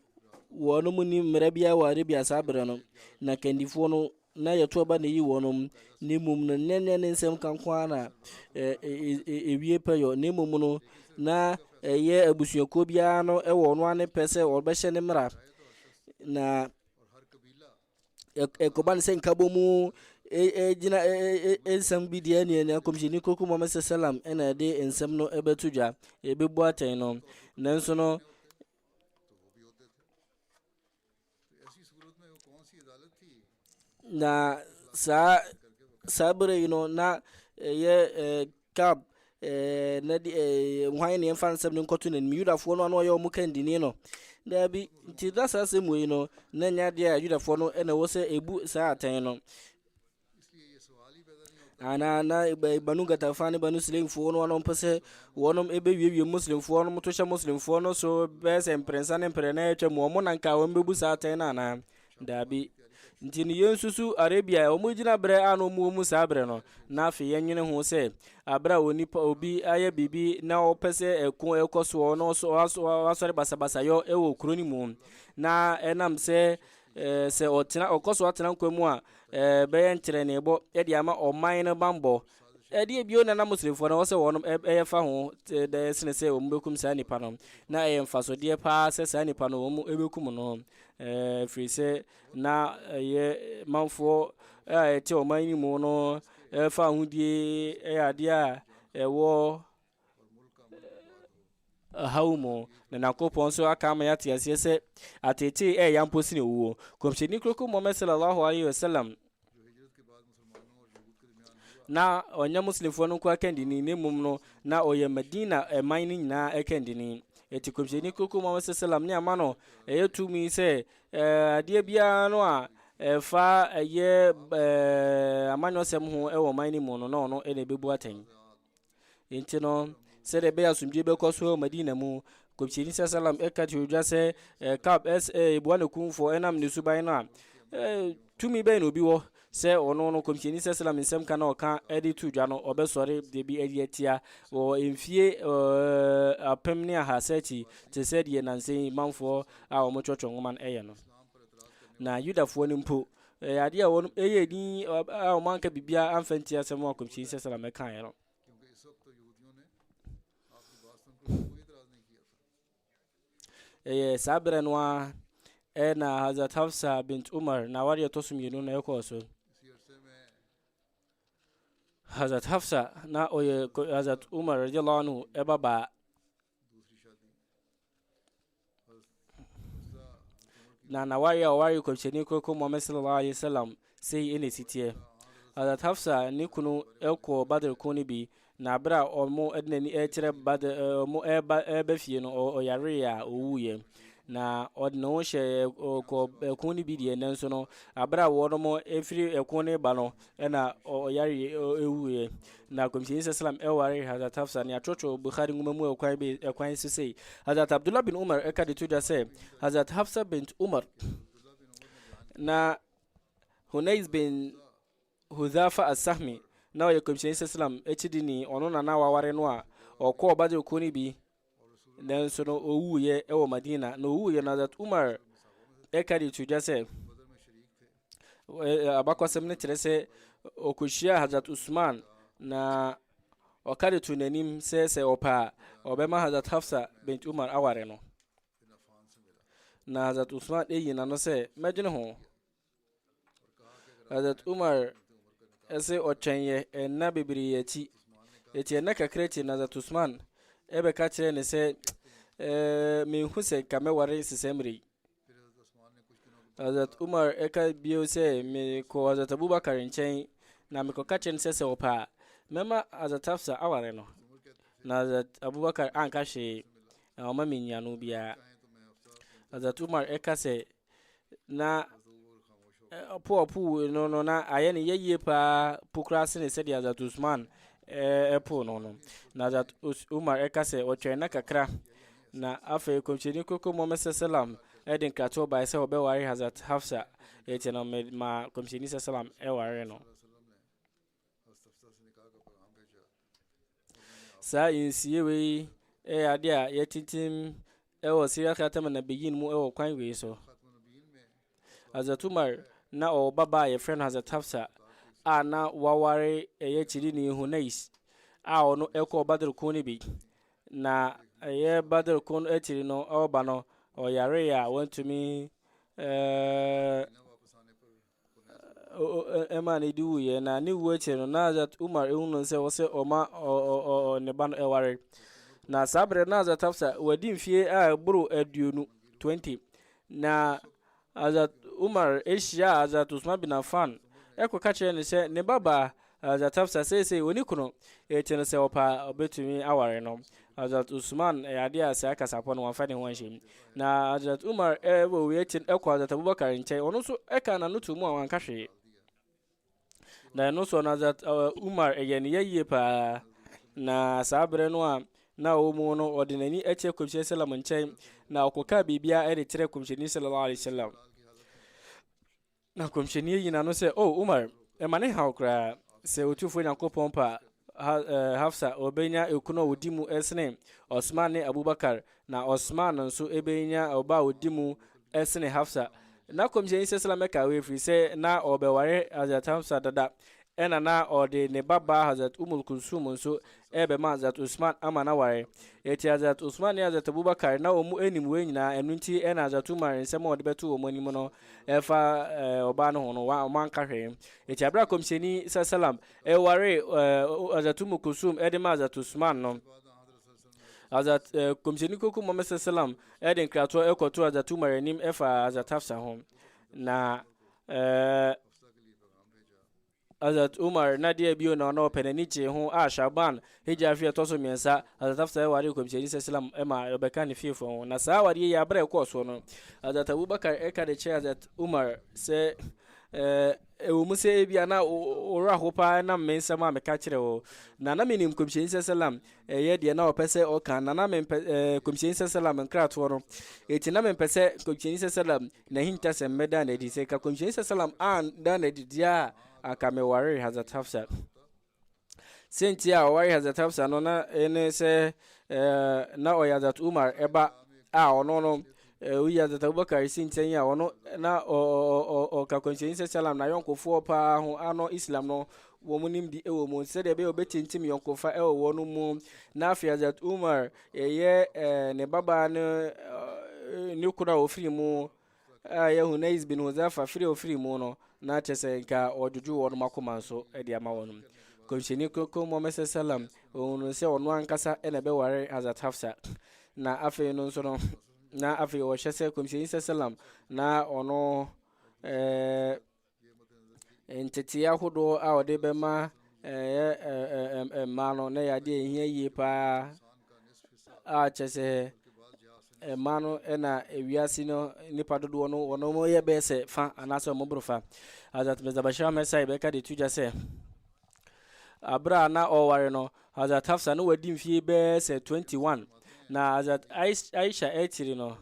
Wɔnom nnim mmara biara wɔ Arabia saa berɛ no, na kandifoɔ no na yɛto aba na ɛyi wɔnom, na mmom no nyɛ nyɛ ne nsɛm ka nko ara na ɛwie pɛyɔ, na mmom no na ɛyɛ abusuakuo biara no wɔ ɔno ane pɛ sɛ ɔbɛhyɛ ne mmara, na ɛkɔba no sɛ nkabɔ mu gyina nsɛm bi deɛ neɛ na kɔmhyɛni koko Muhammad sɛ salam ɛna ɛde nsɛm no ɛbɛto dwa ɛbɛbu atɛn no nanso no Na saa saa bere yi no na ɛyɛ ɛɛ kab ɛɛ na de ɛɛ hwan ne yɛmfa nsɛm no nkɔto n'anim yudafoɔ no a na ɔyɛ wɔn kandini no daabi nti na saa asɛm wei no na nyɛ adeɛ a yudafoɔ no na ɛwɔ sɛ ebu saa atɛn no Ana na Banu Gatafa ne Banu Sulaimfoɔ no wɔn pɛ sɛ wɔn bɛwiewie Muslimfoɔ no to hyɛ Muslimfoɔ no so bɛyɛ sɛ mprɛnsa ne mprɛ na atwa mu wɔn na nka wɔn bɛbu saa atɛn no anaa daabi nti no yɛn susu Arabia wɔn gyina berɛ a na wɔn wɔ mu saa berɛ no na afei yɛnwene ho sɛ aberɛ a onipa obi ayɛ biribi na ɔpɛ sɛ ɛko ɛkɔ soɔ na wasɔre basabasayɔ ɛwɔ kuro no mu na ɛnam sɛ Eh, sɛ ɔtena ɔkɔ so atena nkwa mu a eh, bɛyɛ nkyerɛnebɔ de ama ɔman no bammɔ ɛdeɛ bio na na muslimfoɔ no wɔ sɛ wɔn ɛyɛ fa ho dɛ sene sɛ wɔn bɛkum saa nipa no na ɛyɛ mfasodeɛ paa sɛ saa nipa no wɔn ɛbɛkum no ɛfiri sɛ na ɛyɛ manfoɔ a ɛte ɔman no mu no ɛfa ahodie ɛyɛ adeɛ a ɛwɔ haw mu, na Nyankopɔn nso aka ama yɛate aseɛ sɛ ateetee ɛyɛ ya mpo sene owuo. Kɔmhyɛni Kroko Muhammad sallallahu alaihi wasallam na ɔnyɛ Muslimfoɔ no nko akandini, na mmom no na ɔyɛ Madina ɛman no nyinaa akandini. Ɛti kɔmhyɛni Kroko Muhammad sallam ne ama no ɛyɛ tumi sɛ adeɛ biara no a ɛfa ɛyɛ amanyɔsɛm ho ɛwɔ ɔman no mu no na ɔno ɛna ɛbɛbu atɛn. Enti no, sɛdeɛ ɛbɛyɛ asomdwoeɛ bɛkɔ so wɔ Madina mu, Kɔmhyɛni sa salam ɛka kyerɛ odwa sɛ eh, Kab ɛs eh, ɛbua ne kumfoɔ ɛnam ne suban no a eh, tumi bɛn na obi wɔ sɛ ɔno no Kɔmhyɛni sa salam nsɛm ka na ɔka ɛde to dwa no ɔbɛsɔre de bi adi atia wɔ mfie eh, apem ne ahasa akyi te sɛ deɛ nansa yi manfoɔ a wɔtwɔtwɔ nwoma no ɛyɛ no na Yudafoɔ no mpo ɛyɛ adeɛ a wɔn ɛyɛ din a wɔn anka biribiara anfa nti asɛm a kɔmhyɛni sɛ sɛlɛm ɛkaeɛ no ɛyɛ saa berɛ no a ɛna hazrat hafsa bint umar na awadeɛ ɛtɔ so mmienu na ɛkɔɔ so hazrat hafsa na ɔyɛ hazrat umar radiallahu anhu ɛbabaa na na wari a ɔwari kɔmhyɛni kɔkɔ muhammed sallallahu alaihi wasallam sei ɛna ɛsiteɛ adat hafsa ne kunu ɛkɔ badr ko no bi na berɛ a ɔmo ɛde n'ani ɛkyerɛ badr ɔmo ɛba ɛba fie no ɔyaree a ɔwuiɛ na ɔde ne ho hyɛ ɛkɔ ɛko no bi deɛ nanso no aberɛ a wɔnom ɛfiri ɛko no ba no ɛna ɔyare ɛwuiɛ na kɔmhyɛni sɛ salam ɛware hazrat hafsa ne atorɔtorɔ bukhari nwoma mu ɛkwan bi ɛkwan so sei hazrat abdullah bin umar ɛka de to dwa sɛ hazrat hafsa bint umar na hunais bin hudhafa asahmi na ɔyɛ kɔmhyɛni sɛ salam akyidini ɔno na na waware no a ɔkɔɔ badr ko no bi nanso no ɔwuiɛ wɔ Madina na ɔwuiɛ no Hazrat Umar ɛka de to dwa sɛ abakɔsɛm no kyerɛ sɛ ɔkɔhyia Hazrat Usman na ɔka de to n'anim sɛ sɛ ɔpɛ a ɔbɛma Hazrat Hafsa bint Umar aware no na Hazrat Usman ɛyi n'ano sɛ mɛdwene ho Hazrat Umar ɛsɛ ɔtwɛn yɛ ɛnna bebree akyi eti ɛnna kakra akyi na Hazrat Usman ɛbɛka kyerɛ ne sɛ ɛɛ menhu sɛ nka mɛware nsesɛmire yi Hazrat Umar ɛka bio sɛ mekɔ Hazrat Abubakar nkyɛn na mekɔka kyerɛ no sɛ sɛ ɔpɛ a mɛma Hazrat Hafsa aware no na Hazrat Abubakar anka hwee na ɔma me nnuano biara Hazrat Umar ɛka sɛ na ɔpo a ɔpoo no no na ayɛ no yɛyie paa po koraa sene sɛdeɛ Hazrat Usman ɛpo no no na Hazrat Umar ɛka sɛ ɔtwɛn na kakra na afei kɔmhyɛni koko Muhammad sallam ɛde nkratoɔ bae sɛ ɔbɛware Hazrat Hafsa ɛti no ma kɔmhyɛni sallam ɛware no Saa nsie wei yɛ adeɛ a yɛtintim wɔ Syria Khatam Nabiyyin mu wɔ kwan wei so. Hazrat Umar na ɔwɔ baba a yɛfrɛ no Hazrat Hafsa a na waware ɛyɛ kyidini Hunais a ɔno ɛkɔɔ Badr ko no bi. Na ɛyɛ Badr ko no akyiri no ɔba no ɔyare a wantumi ɛɛ ɛma ne de wuiɛ na ne wuo akyire no na Hazrat Umar ehu no sɛ wɔsɛ ɔma ne ba no ɛware na saa berɛ na Hazrat Hafsa wadi mfie a ɛboro aduonu 20 na Hazrat Umar ehyia Hazrat Usman bin Affan ɛkɔka kyerɛ ne sɛ ne babaa Hazrat Hafsa seesei ɔnni kunu, enti no sɛ ɔpɛ a ɔbɛtumi aware no. Hazrat Usman, ɛyɛ adeɛ a saa kasapɔ no wamfa ne ho anhyɛ mu. Na Hazrat Umar wɔ wei akyi no kɔɔ Hazrat Abubakar nkyɛn, ɔno nso ɛkaa n'ano too mu a wanka hwee. Na ɛno soɔ no Hazrat Umar ɛyɛ ne yɛ yie paa, na saa berɛ no a na ɔwɔ mu no ɔde n'ani akyerɛ Kɔmhyɛni Sallam nkyɛn, na ɔkɔkaa biribiara de kyerɛ Kɔmhyɛni Sallallahu Alaihi Wasallam. Na kɔmhyɛni ayi n'ano sɛ, O Umar, ɛma ne haw koraa sɛ Otumfoɔ Nyankopɔn pa ha, eh, Hafsa ɔbɛnya ekunu a ɔdi mu ɛsene Osman ne Abubakar, na Osman nso ɛbɛnya ɔba a ɔdi mu ɛsene Hafsa. Na kɔmhyɛni sɛ salam ɛka wei ɛfiri sɛ na ɔbɛware Hazrat Hafsa dada, Ɛna na ɔde ne babaa Hazrat Ummul Kulsum nso rebɛma Hazrat Uthman ama no aware. Enti Hazrat Uthman ne Hazrat Abu Bakr na wɔn nim wei nyinaa, ɛno nti ɛna Hazrat Umar nsɛm a ɔde bɛto wɔn anim no ɛfa ɔbaa no ho no wɔn anka hwee. Enti abere a Kɔmhyɛni Sallam ɛware Hazrat Ummul Kulsum ɛde ma Hazrat Uthman no, Hazrat Kɔmhyɛni Koko Muhammad Sallam ɛde nkratoɔ ɛkɔto Hazrat Umar anim ɛfa Hazrat Hafsa ho. Na ɛɛ Hazrat Umar na deɛ bio na ɔna ɔpɛ n'ani gyee ho a Sha'ban, Hijra afe a ɛtɔ so mmiɛnsa, Hazrat Hafsa waree Nkɔmhyɛni sasalam ma ɔbɛkaa ne fiefoɔ ho. Na saa awadeɛ yi aberɛ a ɛkɔɔ soɔ no, Hazrat Abu Bakar ka de kyerɛɛ Hazrat Umar sɛ, Ɛɛ, ɛwɔ mu sɛ ebia na wo werɛ ho paa nam me nsɛm a meka kyerɛ wo, na na menim Nkɔmhyɛni sasalam yɛ deɛ na ɔpɛ sɛ ɔka, na na mempɛ ɛɛ Nkɔmhyɛni sasalam nkratoɔ no, enti na mempɛ sɛ Nkɔmhyɛni sasalam N'ahintasɛm bɛdaa no adi sɛ ka kɔmhyɛni sɛ salam andaa no adi deɛ a anka mewaree Hazrat Hafsa. Sɛnti a ɔware Hazrat Hafsa no na ɛne sɛ na ɔyɛ Hazrat Umar ɛba a ɔno no woyi Hazrat Abubakar si nkyɛn a ɔno na ɔka kɔmhyɛni sɛ salam na yɔnkofoɔ paa ho ano Islam no wɔn nimdi wɔ mu sɛdeɛ ɛbɛyɛ wɔbɛtintim yɔnkofa wɔ wɔn mu na afei azat umar yɛyɛ eh, ne babaa no eh, ne kunu a ɔfiri mu a yɛ hunais bin huzafa firi ɔfiri mu no na kyɛ sɛ nka ɔdwodwo wɔn makoma nso de ama wɔn kɔmhyɛni kronkron muhammad sallam ɔhunu sɛ ɔno ankasa na ɛbɛware hazat hafsa na afei no nso no na afei ɔhyɛ sɛ kɔmhyɛni sallam na ɔno eh, Ntetee ahodoɔ a wɔde bɛma ɛyɛ mmaa no na ɛyɛ adeɛ a ɛhia yie paa a kyɛ sɛ mmaa no na ewiase no nipa dodoɔ no wɔn wɔn yɛ bɛyɛ sɛ fa anaasɛ wɔn boro fa azat mizabashira mɛsa yɛbɛka de tu gya sɛ. Bere a na ɔreware no, Hazrat Hafsa no wadi mfie bɛyɛ sɛ 21, na Hazrat Aisha akyiri no,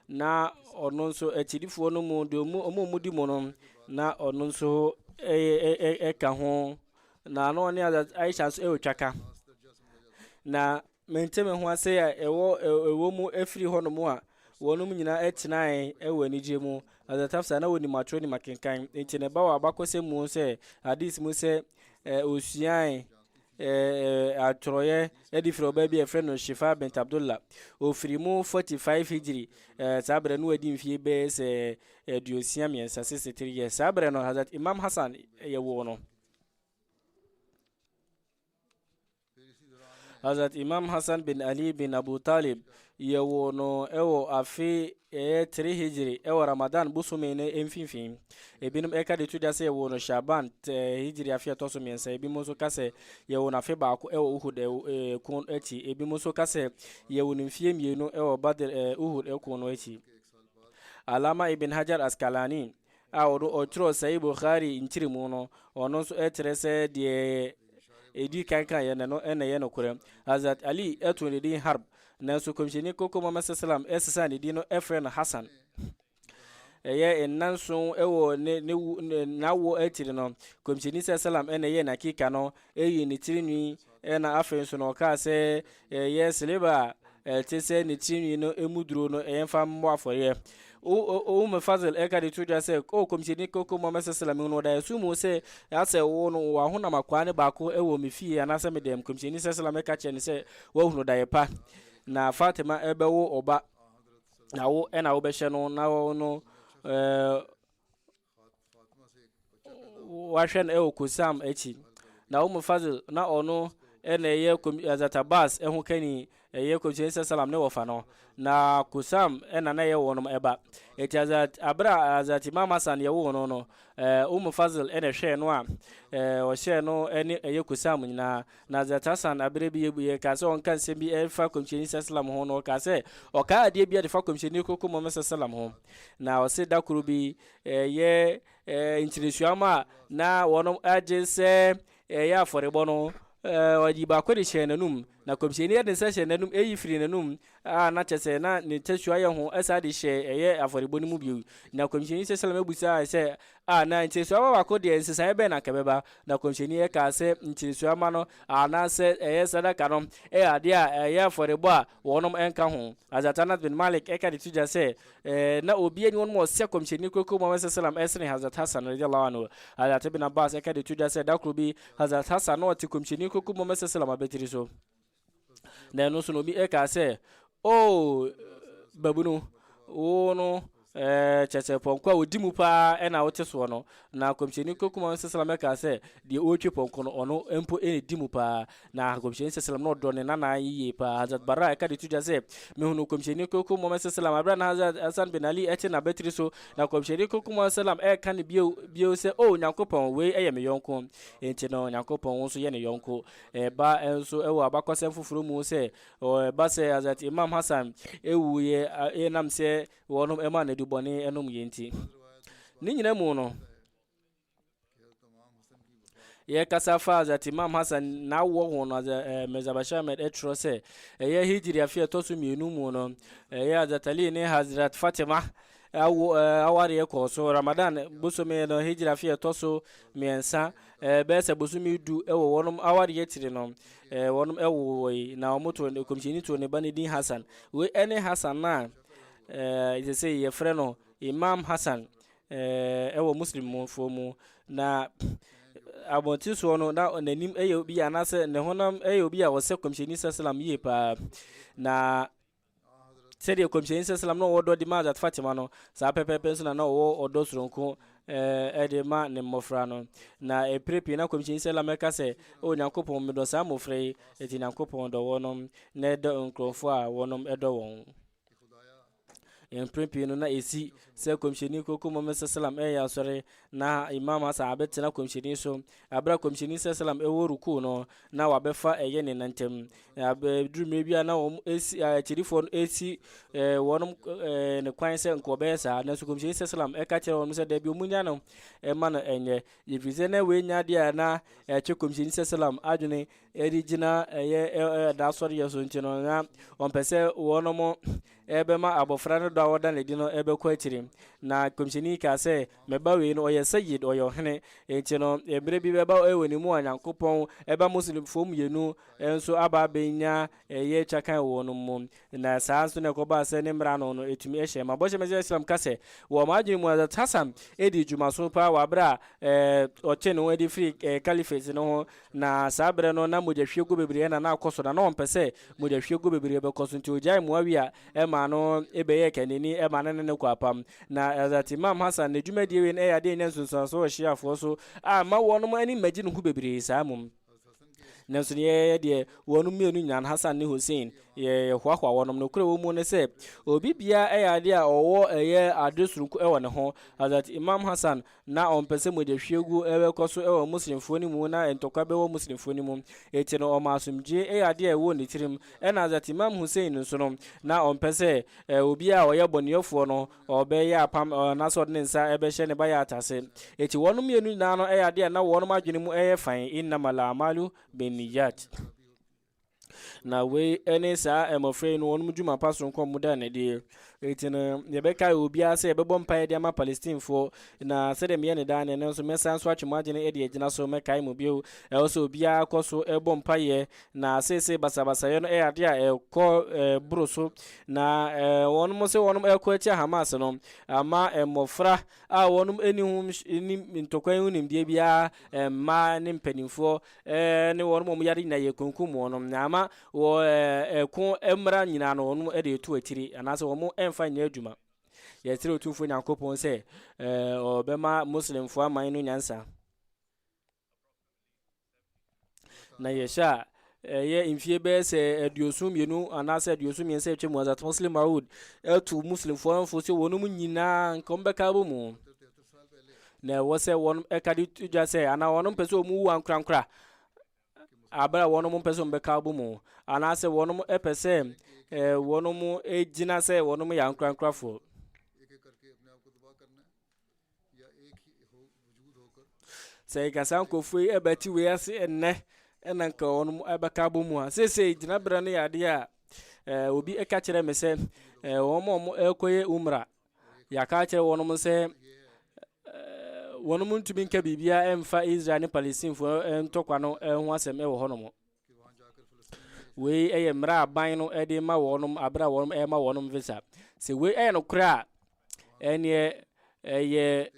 na ɔno nso akyirifoɔ no mu deɛ ɔmu ɔmu ɔmu di mu no na ɔno nso ɛka ho na na ɔne Hazrat Aisha nso ɛretwa ka na Mente me ho ase a ɛwɔ ɛwɔ mu afiri hɔnom a wɔnom nyinaa tenae wɔ anigye mu. Ɔdɛ Tafsa na wɔnim atwerɛ nim akenkan, nti ne ba wɔ abakɔsɛm mu sɛ hadis mu sɛ ɔsuae atwerɛeɛ de firi ɔbaa bi a ɛfrɛ no Shifa bint Abdullah. Ɔfiri mu 45 hijiri, saa berɛ no wadi mfie bɛyɛ sɛ aduosia mmiɛnsa 63 years. Saa berɛ no Hazrat Imam Hassan yɛwoo no. Hazrat Imam Hassan bin Ali bin Abu Talib yɛwoo no wɔ afe ɛyɛ 3 hijiri wɔ Ramadan bosome no mfimfini ebinom ɛka de to gya sɛ yɛwoo no Shaban hijiri afe ɛtɔ so mmiɛnsa ebinom nso ka sɛ yɛwoo no afe baako wɔ Uhud ɛko akyi ebinom nso ka sɛ yɛwoo no mfie mmienu wɔ Badr Uhud ɛko no akyi Alama Ibn Hajar Askalani a ɔno ɔtwerɛɛ Sahih Bukhari nkyerɛmu no, ɔno nso kyerɛ sɛ deɛ ɛdi kan kan yɛ no no na ɛyɛ nokorɛ. Hazrat Ali too ne din Harb, nanso Kɔmhyɛni Koko Muhammad sallam sesaa ne din no frɛ no Hassan. Ɛyɛ nnanson wɔ ne ne n'awoɔ akyiri no, Kɔmhyɛni sallam na ɛyɛɛ n'akika no, ɛyii ne tirinwi Ɛna afei nso na ɔkaa sɛ yɛyɛ sileba a ɛte sɛ ne tirinwi no emu duro no yɛmfa mmɔ afɔreɛ. Umm Fazl ɛka de to dwa sɛ, O Kɔmhyɛni Koko Muhammad Sallam, mehunu wɔ daeɛso mu sɛ asɛ wo no wɔ w'ahonam akwaa ne baako wɔ me fie anaasɛ me dɛm. Kɔmhyɛni Sallam ɛka kyerɛ no sɛ, Woahunu daeɛ pa, na Fatima bɛwo ɔba, na wo na wobɛhyɛ no na ɔno ɛɛ. Wahwɛ no wɔ Kusam akyi. Na Umm Fazl, na ɔno na ɛyɛ Hazrat Abbas ho kani, ɛyɛ Kɔmhyɛni Sallam ne wɔfa no. Na Kusam na na ɛyɛ wɔnom ɛba. Eti Hazrat, abere a Hazrat Imam Hassan yɛ woo no no, Umm Fazl na ɛhwɛɛ no a ɔhyɛɛ no ne ɛyɛ Kusam nyinaa. Na Hazrat Hassan aberɛ bi yɛbuiɛ kaa sɛ ɔnka nsɛm bi ɛfa Kɔmhyɛni sasalam ho, na ɔkaa sɛ ɔkaa adeɛ bi a defa Kɔmhyɛni Kroko Muhammad sasalam ho, na ɔse da koro bi ɛyɛ ntinesuam a na wɔn agye sɛ ɛyɛ afɔrebɔ no, ɔyii baako de hyɛɛ n'anum, na Kɔmhyɛni de nsa hyɛɛ n'anum, ɛyi firii n'anum, a na kyerɛ sɛ na ne tasua yɛ ho saa de hyɛ ɛyɛ afɔrebɔ no mu bio. Na kɔmhyɛni sɛ Salem bisae sɛ, A na nkyerɛsua ba baako deɛ nsesaeɛ bɛn na anka ɛbɛba? Na kɔmhyɛni kaa sɛ, Nkyerɛsua ma no, anaasɛ ɛyɛ sadaka no, yɛ adeɛ a ɛyɛ afɔrebɔ a wɔnom nka ho. Hazrat Anas bin Malik ka de to dwa sɛ, Na obiara nni wɔnom a ɔsɛ kɔmhyɛni Kronkron Muhammad sɛ Salem sene Hazrat Hassan radiyallahu anhu. Hazrat Ibn Abbas ka de to dwa sɛ da koro bi Hazrat Hassan na ɔte kɔmhyɛni Kronkron Muhammad sɛ Salem abatiri so. Na ɛno nso no, obi ɛka sɛ, o babunu, wo no ɛɛ kyɛ sɛ pɔnkɔ a ɔdi mu paa ɛna wote soɔ no. Na kɔmhyɛni kokuma no sɛsɛlam ɛka sɛ, deɛ ɔretwe pɔnkɔ no, ɔno mpo ɛna di mu paa. Na kɔmhyɛni sɛsɛlam no ɔdɔ ne nana yie paa. Hazrat Bara ɛka de to dwa sɛ, mehunu kɔmhyɛni kokuma no sɛsɛlam aberɛ a na Hazrat Hasan bin Ali ɛte n'abatiri so. Na kɔmhyɛni kokuma no sɛsɛlam ɛka no bio, bio sɛ, o Nyankopɔn, wei ɛyɛ me yɔnko. Enti no, Nyankopɔn wo nso yɛ ne yɔnko. Ɛba nso wɔ abakɔsɛm foforo mu sɛ, ɛba sɛ Hazrat Imam Hassan wuiɛ ɛnam sɛ wɔnom maa no adubɔne nom yɛ nti. Ne nyina mu no, yɛkasa fa Hazrat Imam Hassan n'awoɔ ho no, eh, Mirza Bashir Ahmed ɛtwerɛ sɛ, ɛyɛ Hijri afe ɛtɔ so mmienu mu no, ɛyɛ Hazrat Ali ne Hazrat Fatima Awo, eh, awareɛ kɔɔ so. Ramadan bosome no, Hijra afe a ɛtɔ so mmiɛnsa, eh, bɛyɛ sɛ bosome du wɔ wɔnom awareɛ akyiri no, eh, wɔnom wowoe, na wɔn to, Kɔmhyɛni too ne ba no din Hassan. Wei ɛne Hassan no a, eh, ɛsɛ sɛ yɛfrɛ no Imam Hassan, eh, ɛwɔ Muslimfoɔ mu. Na abɔnten soɔ no na n'anim yɛ obi anaasɛ ne honam yɛ obi a ɔsɛ Kɔmhyɛni Sallam yie paa. Na Sɛdeɛ Kɔmhyɛni Salsalam na ɔwɔ ɔdɔ de ma Hazrat Fatima no, saa pɛpɛɛpɛ nso na na ɔwɔ ɔdɔ soronko eh, de ma ne mmɔfra no. Na ɛpere pii na Kɔmhyɛni Salsalam ɛka sɛ, O Nyankopɔn, medɔ saa mmɔfra yi, enti Nyankopɔn dɔ wɔnom na ɛdɔ nkurɔfoɔ a wɔnom ɛdɔ wɔn. Mpere pii no na ɛsi sɛ Kɔmhyɛni Koko Muhammad Salsalam ɛyɛ asɔre Na Imam Hassan abɛtena Kɔmhyɛni so, berɛ a Kɔmhyɛni sɛ salam ɛwɔ rukuu no, na wabɛfa ɛyɛ ne nantam. Ɛduru mmerɛ bi a na wɔn ɛsi akyirifoɔ no ɛsi wɔn ne kwan sɛ nka wɔbɛyɛ saa, nanso Kɔmhyɛni sɛ salam ɛka kyerɛ wɔn sɛ daabi wɔn nya no ɛma no ɛnyɛ, ɛfiri sɛ na wei nya adeɛ a na ɛtwe Kɔmhyɛni sɛ salam adwene ɛde gyina ɛyɛ ɛda asɔreyɛ so nti no na wɔn pɛ sɛ wɔn ɛbɛma abɔfra no dɔ a wɔda no adi no bɛkɔ akyiri. Na nkɔmhyɛni kaa sɛ, Me ba wei no, ɔyɛ Sayyid, ɔyɛ ɔhene. Enti no, mmerɛ bi bɛba wɔ ne mu a Nyankopɔn ba Muslimfoɔ mmienu nso aba abɛnya ɛyɛ twa kan wɔ wɔnom mu. Na saa nso na ɛkɔbaa sɛ ne mmerɛ ano no ɛtumi hyɛɛ ma. Bɔhyɛ Mɛsia Islam ka sɛ, Wɔ wɔn adwene mu Hazrat Hassan dii dwuma so paa wɔ aberɛ a ɔtwee ne ho adi firii Caliphate no ho Na saa berɛ no, na mogyahwiegu bebree na na akɔ so, na na ɔmpɛ sɛ mogyahwiegu bebree bɛkɔ so, nti ɔgyaee Muawiya maa no bɛyɛɛ kannani maa no ne no kɔɔ apam. Na Hazrat Imam Hassan ne dwumadie wei no ɛyɛ adeɛ a ɛnya nsunsuansoɔ wɔ Shiafoɔ so a mma wɔnom ani mmɛgye ne ho bebree saa mmom. Nanso neɛ ɛyɛ deɛ wɔnom mmienu nyinaa, Hassan ne Hussein, yɛ hoahoa wɔnom. Nokorɛ wɔ mu ne sɛ, obi biara ɛyɛ adeɛ a ɔwɔ ɛyɛ adeɛ sononko wɔ ne ho. Hazrat Imam Hassan Na ɔmpɛ sɛ mogya hwiegu bɛkɔ so wɔ Muslimfoɔ no mu na ntɔkwa bɛwɔ Muslimfoɔ no mu. Enti no ɔmaa asomdwoeɛ yɛ adeɛ a ɛwɔ ne tirim. Ɛna Hazrat Imam Hussein nso no, na ɔmpɛ sɛ obiara a ɔyɛ bɔneɛfoɔ no ɔbɛyɛ apam anaasɛ ɔde ne nsa bɛhyɛ ne bay'at ase. Enti wɔnom mmienu nyinaa no yɛ adeɛ a na wɔnom adwene mu yɛ fann, Innamal a'malu bin-niyyat. Na wei ne saa mmɔfra yi no wɔn dwuma pa soronko wɔn da nɛdeɛ eti no yɛbɛkae obiara sɛ yɛbɛbɔ mpaeɛ de ama palestinefoɔ na sɛdeɛ meyɛ ne daa no ɛno nso mɛsan so atwe mo adwene de agyina so mɛkae mo bio ɛwɔ sɛ obiara kɔ so ɛbɔ mpaeɛ na seesei basabasayɛ no ɛyɛ adeɛ a ɛkɔ ɛboro so na wɔn mo sɛ wɔn ɛkɔ atia hamas no ama mmɔfra a wɔn ani ho ntɔkwa yi ho nimdeɛ biara mmaa ne mpanimfoɔ eh, ne wɔn mom yare nyinaa yɛkunkum wɔn nom na ama wɔ eh, ɛko eh, mmara nyinaa no wɔn eh, de ɛtu akyiri anaasɛ wɔn eh, mfa nyɛ adwuma yɛsrɛ otumfoɔ nyankopɔn sɛ eh, ɔbɛma muslimfoɔ aman no nyansa na yɛhyɛ a ɛyɛ eh, mfie bɛyɛ sɛ aduoson mmienu anaasɛ aduoson mmiɛnsa atwa mu azat muslim maud ɛto muslimfoɔ mfo sɛ wɔnom nyinaa nka ɔmbɛka bɔ mu na ɛwɔ sɛ wɔn ɛka de to dwa sɛ anaa wɔn mpɛ sɛ wɔn wu ankorankora abere a wɔn mpɛ sɛ wɔn bɛka abɔ mu anaasɛ wɔn pɛ sɛ ɛɛ wɔn gyina sɛ wɔn yɛ ankorankorafoɔ. sɛ nkasa nkurɔfoɔ yi ɛbɛti wei ase ɛnnɛ ɛna nka wɔn ɛbɛka abɔ mu a seesei gyinaberɛ no yɛ adeɛ a ɛɛ obi ɛka kyerɛ me sɛ ɛɛ wɔn a wɔn ɛrekɔyɛ umra Yɛaka akyerɛ wɔnom sɛ wɔnom ntumi nka biribiara mfa Israel ne Palestinfoɔ ntɔkwa no ho asɛm wɔ hɔnom. Wei yɛ mmerɛ aban no de ma wɔnom aberɛ a wɔnom ɛma wɔnom visa. Sɛ wei yɛ nokorɛ a, ɛneɛ ɛyɛ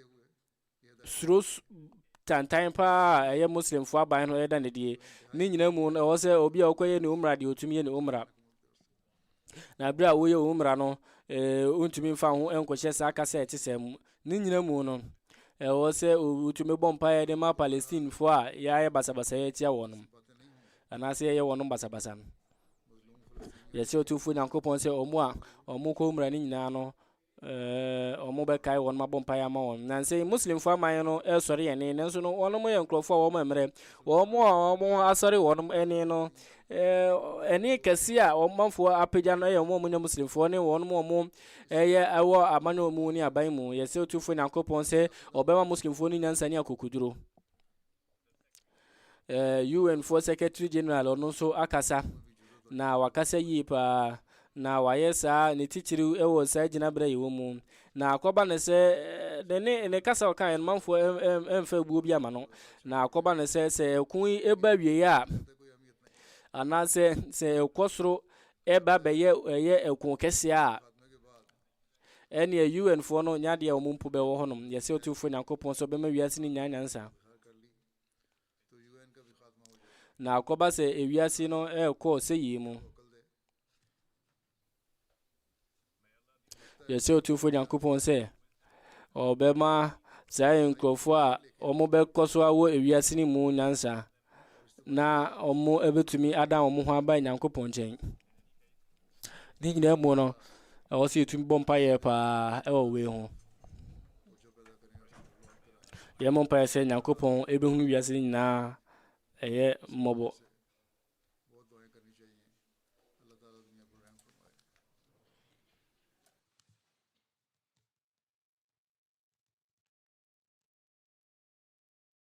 suro tantan paa a ɛyɛ Muslimfoɔ aban no ɛda no adie. Ne nyinaa mu no, ɛwɔ sɛ obi a ɔkɔyɛ ne umra deɛ ɔtumi yɛ ne umra. Na berɛ a woyɛ umra no, wontumi mfa ho nkɔhyɛ saa kasa a ɛte saa mu. Ne nyinaa mu no, ɛwɔ sɛ wotumi bɔ mpaeɛ de ma Palestinefoɔ a yɛayɛ basabasa yɛ atia wɔn anaasɛ yɛyɛ wɔn basabasa no. Yɛsrɛ Otumfoɔ Nyankopɔn sɛ wɔn a wɔkɔ umra no nyinaa no, Ɛɛ, wɔbɛkae wɔn abɔ mpaeɛ ama wɔn. Nansa yi, Muslimfoɔ aman no resɔre yɛn ani, nanso no, wɔnom yɛ nkurɔfoɔ a wɔn mmerɛ. Wɔn a wɔn ho asɔre wɔnom ani no, ɛɛ, ani kɛse a wɔn manfoɔ apagya no yɛ wɔn a wɔnyɛ Muslimfoɔ ne wɔnom a wɔn ɛyɛ ɛwɔ amanyɔ mu ne aban mu. Yɛsɛ Otumfoɔ Nyankopɔn sɛ ɔbɛma Muslimfoɔ no nyansa ne akokoduro. eh, UN foɔ secretary general ɔno nso akasa na wakasa yie paa na wayɛ saa ne titiriw wɔ saa gyinaberɛ yi wɔ mu na akɔba ne sɛ ne ne ne kasa ɔka yɛn manfoɔ ɛmfa ebuo bi ama no na akɔba ne sɛ sɛ ɛko yi ɛba wie a anaasɛ sɛ ɛkɔ soro ɛba bɛyɛ ɛyɛ ɛko kɛseɛ a Ɛneɛ UN foɔ no nyɛ adeɛ a wɔn mpo bɛwɔ hɔnom, yɛsɛ Otumfoɔ Nyankopɔn sɛ ɔbɛma wiase no nyaa nyansa. Na akɔba sɛ ewiase no ɛrekɔ sɛyie mu. Yɛsɛ Otumfoɔ Nyankopɔn sɛ ɔbɛma saa nkurɔfoɔ a wɔbɛkɔ so awɔ ewiase no mu nyansa na wɔbɛtumi adan wɔn ho aba Nyankopɔn nkyɛn. Ne nyinaa mu no, ɛwɔ sɛ yɛtumi bɔ mpaeɛ paa ɛwɔ wei ho. Yɛmmɔ mpaeɛ sɛ Nyankopɔn ɛbɛhunu wiase no nyinaa ɛyɛ mmɔbɔ.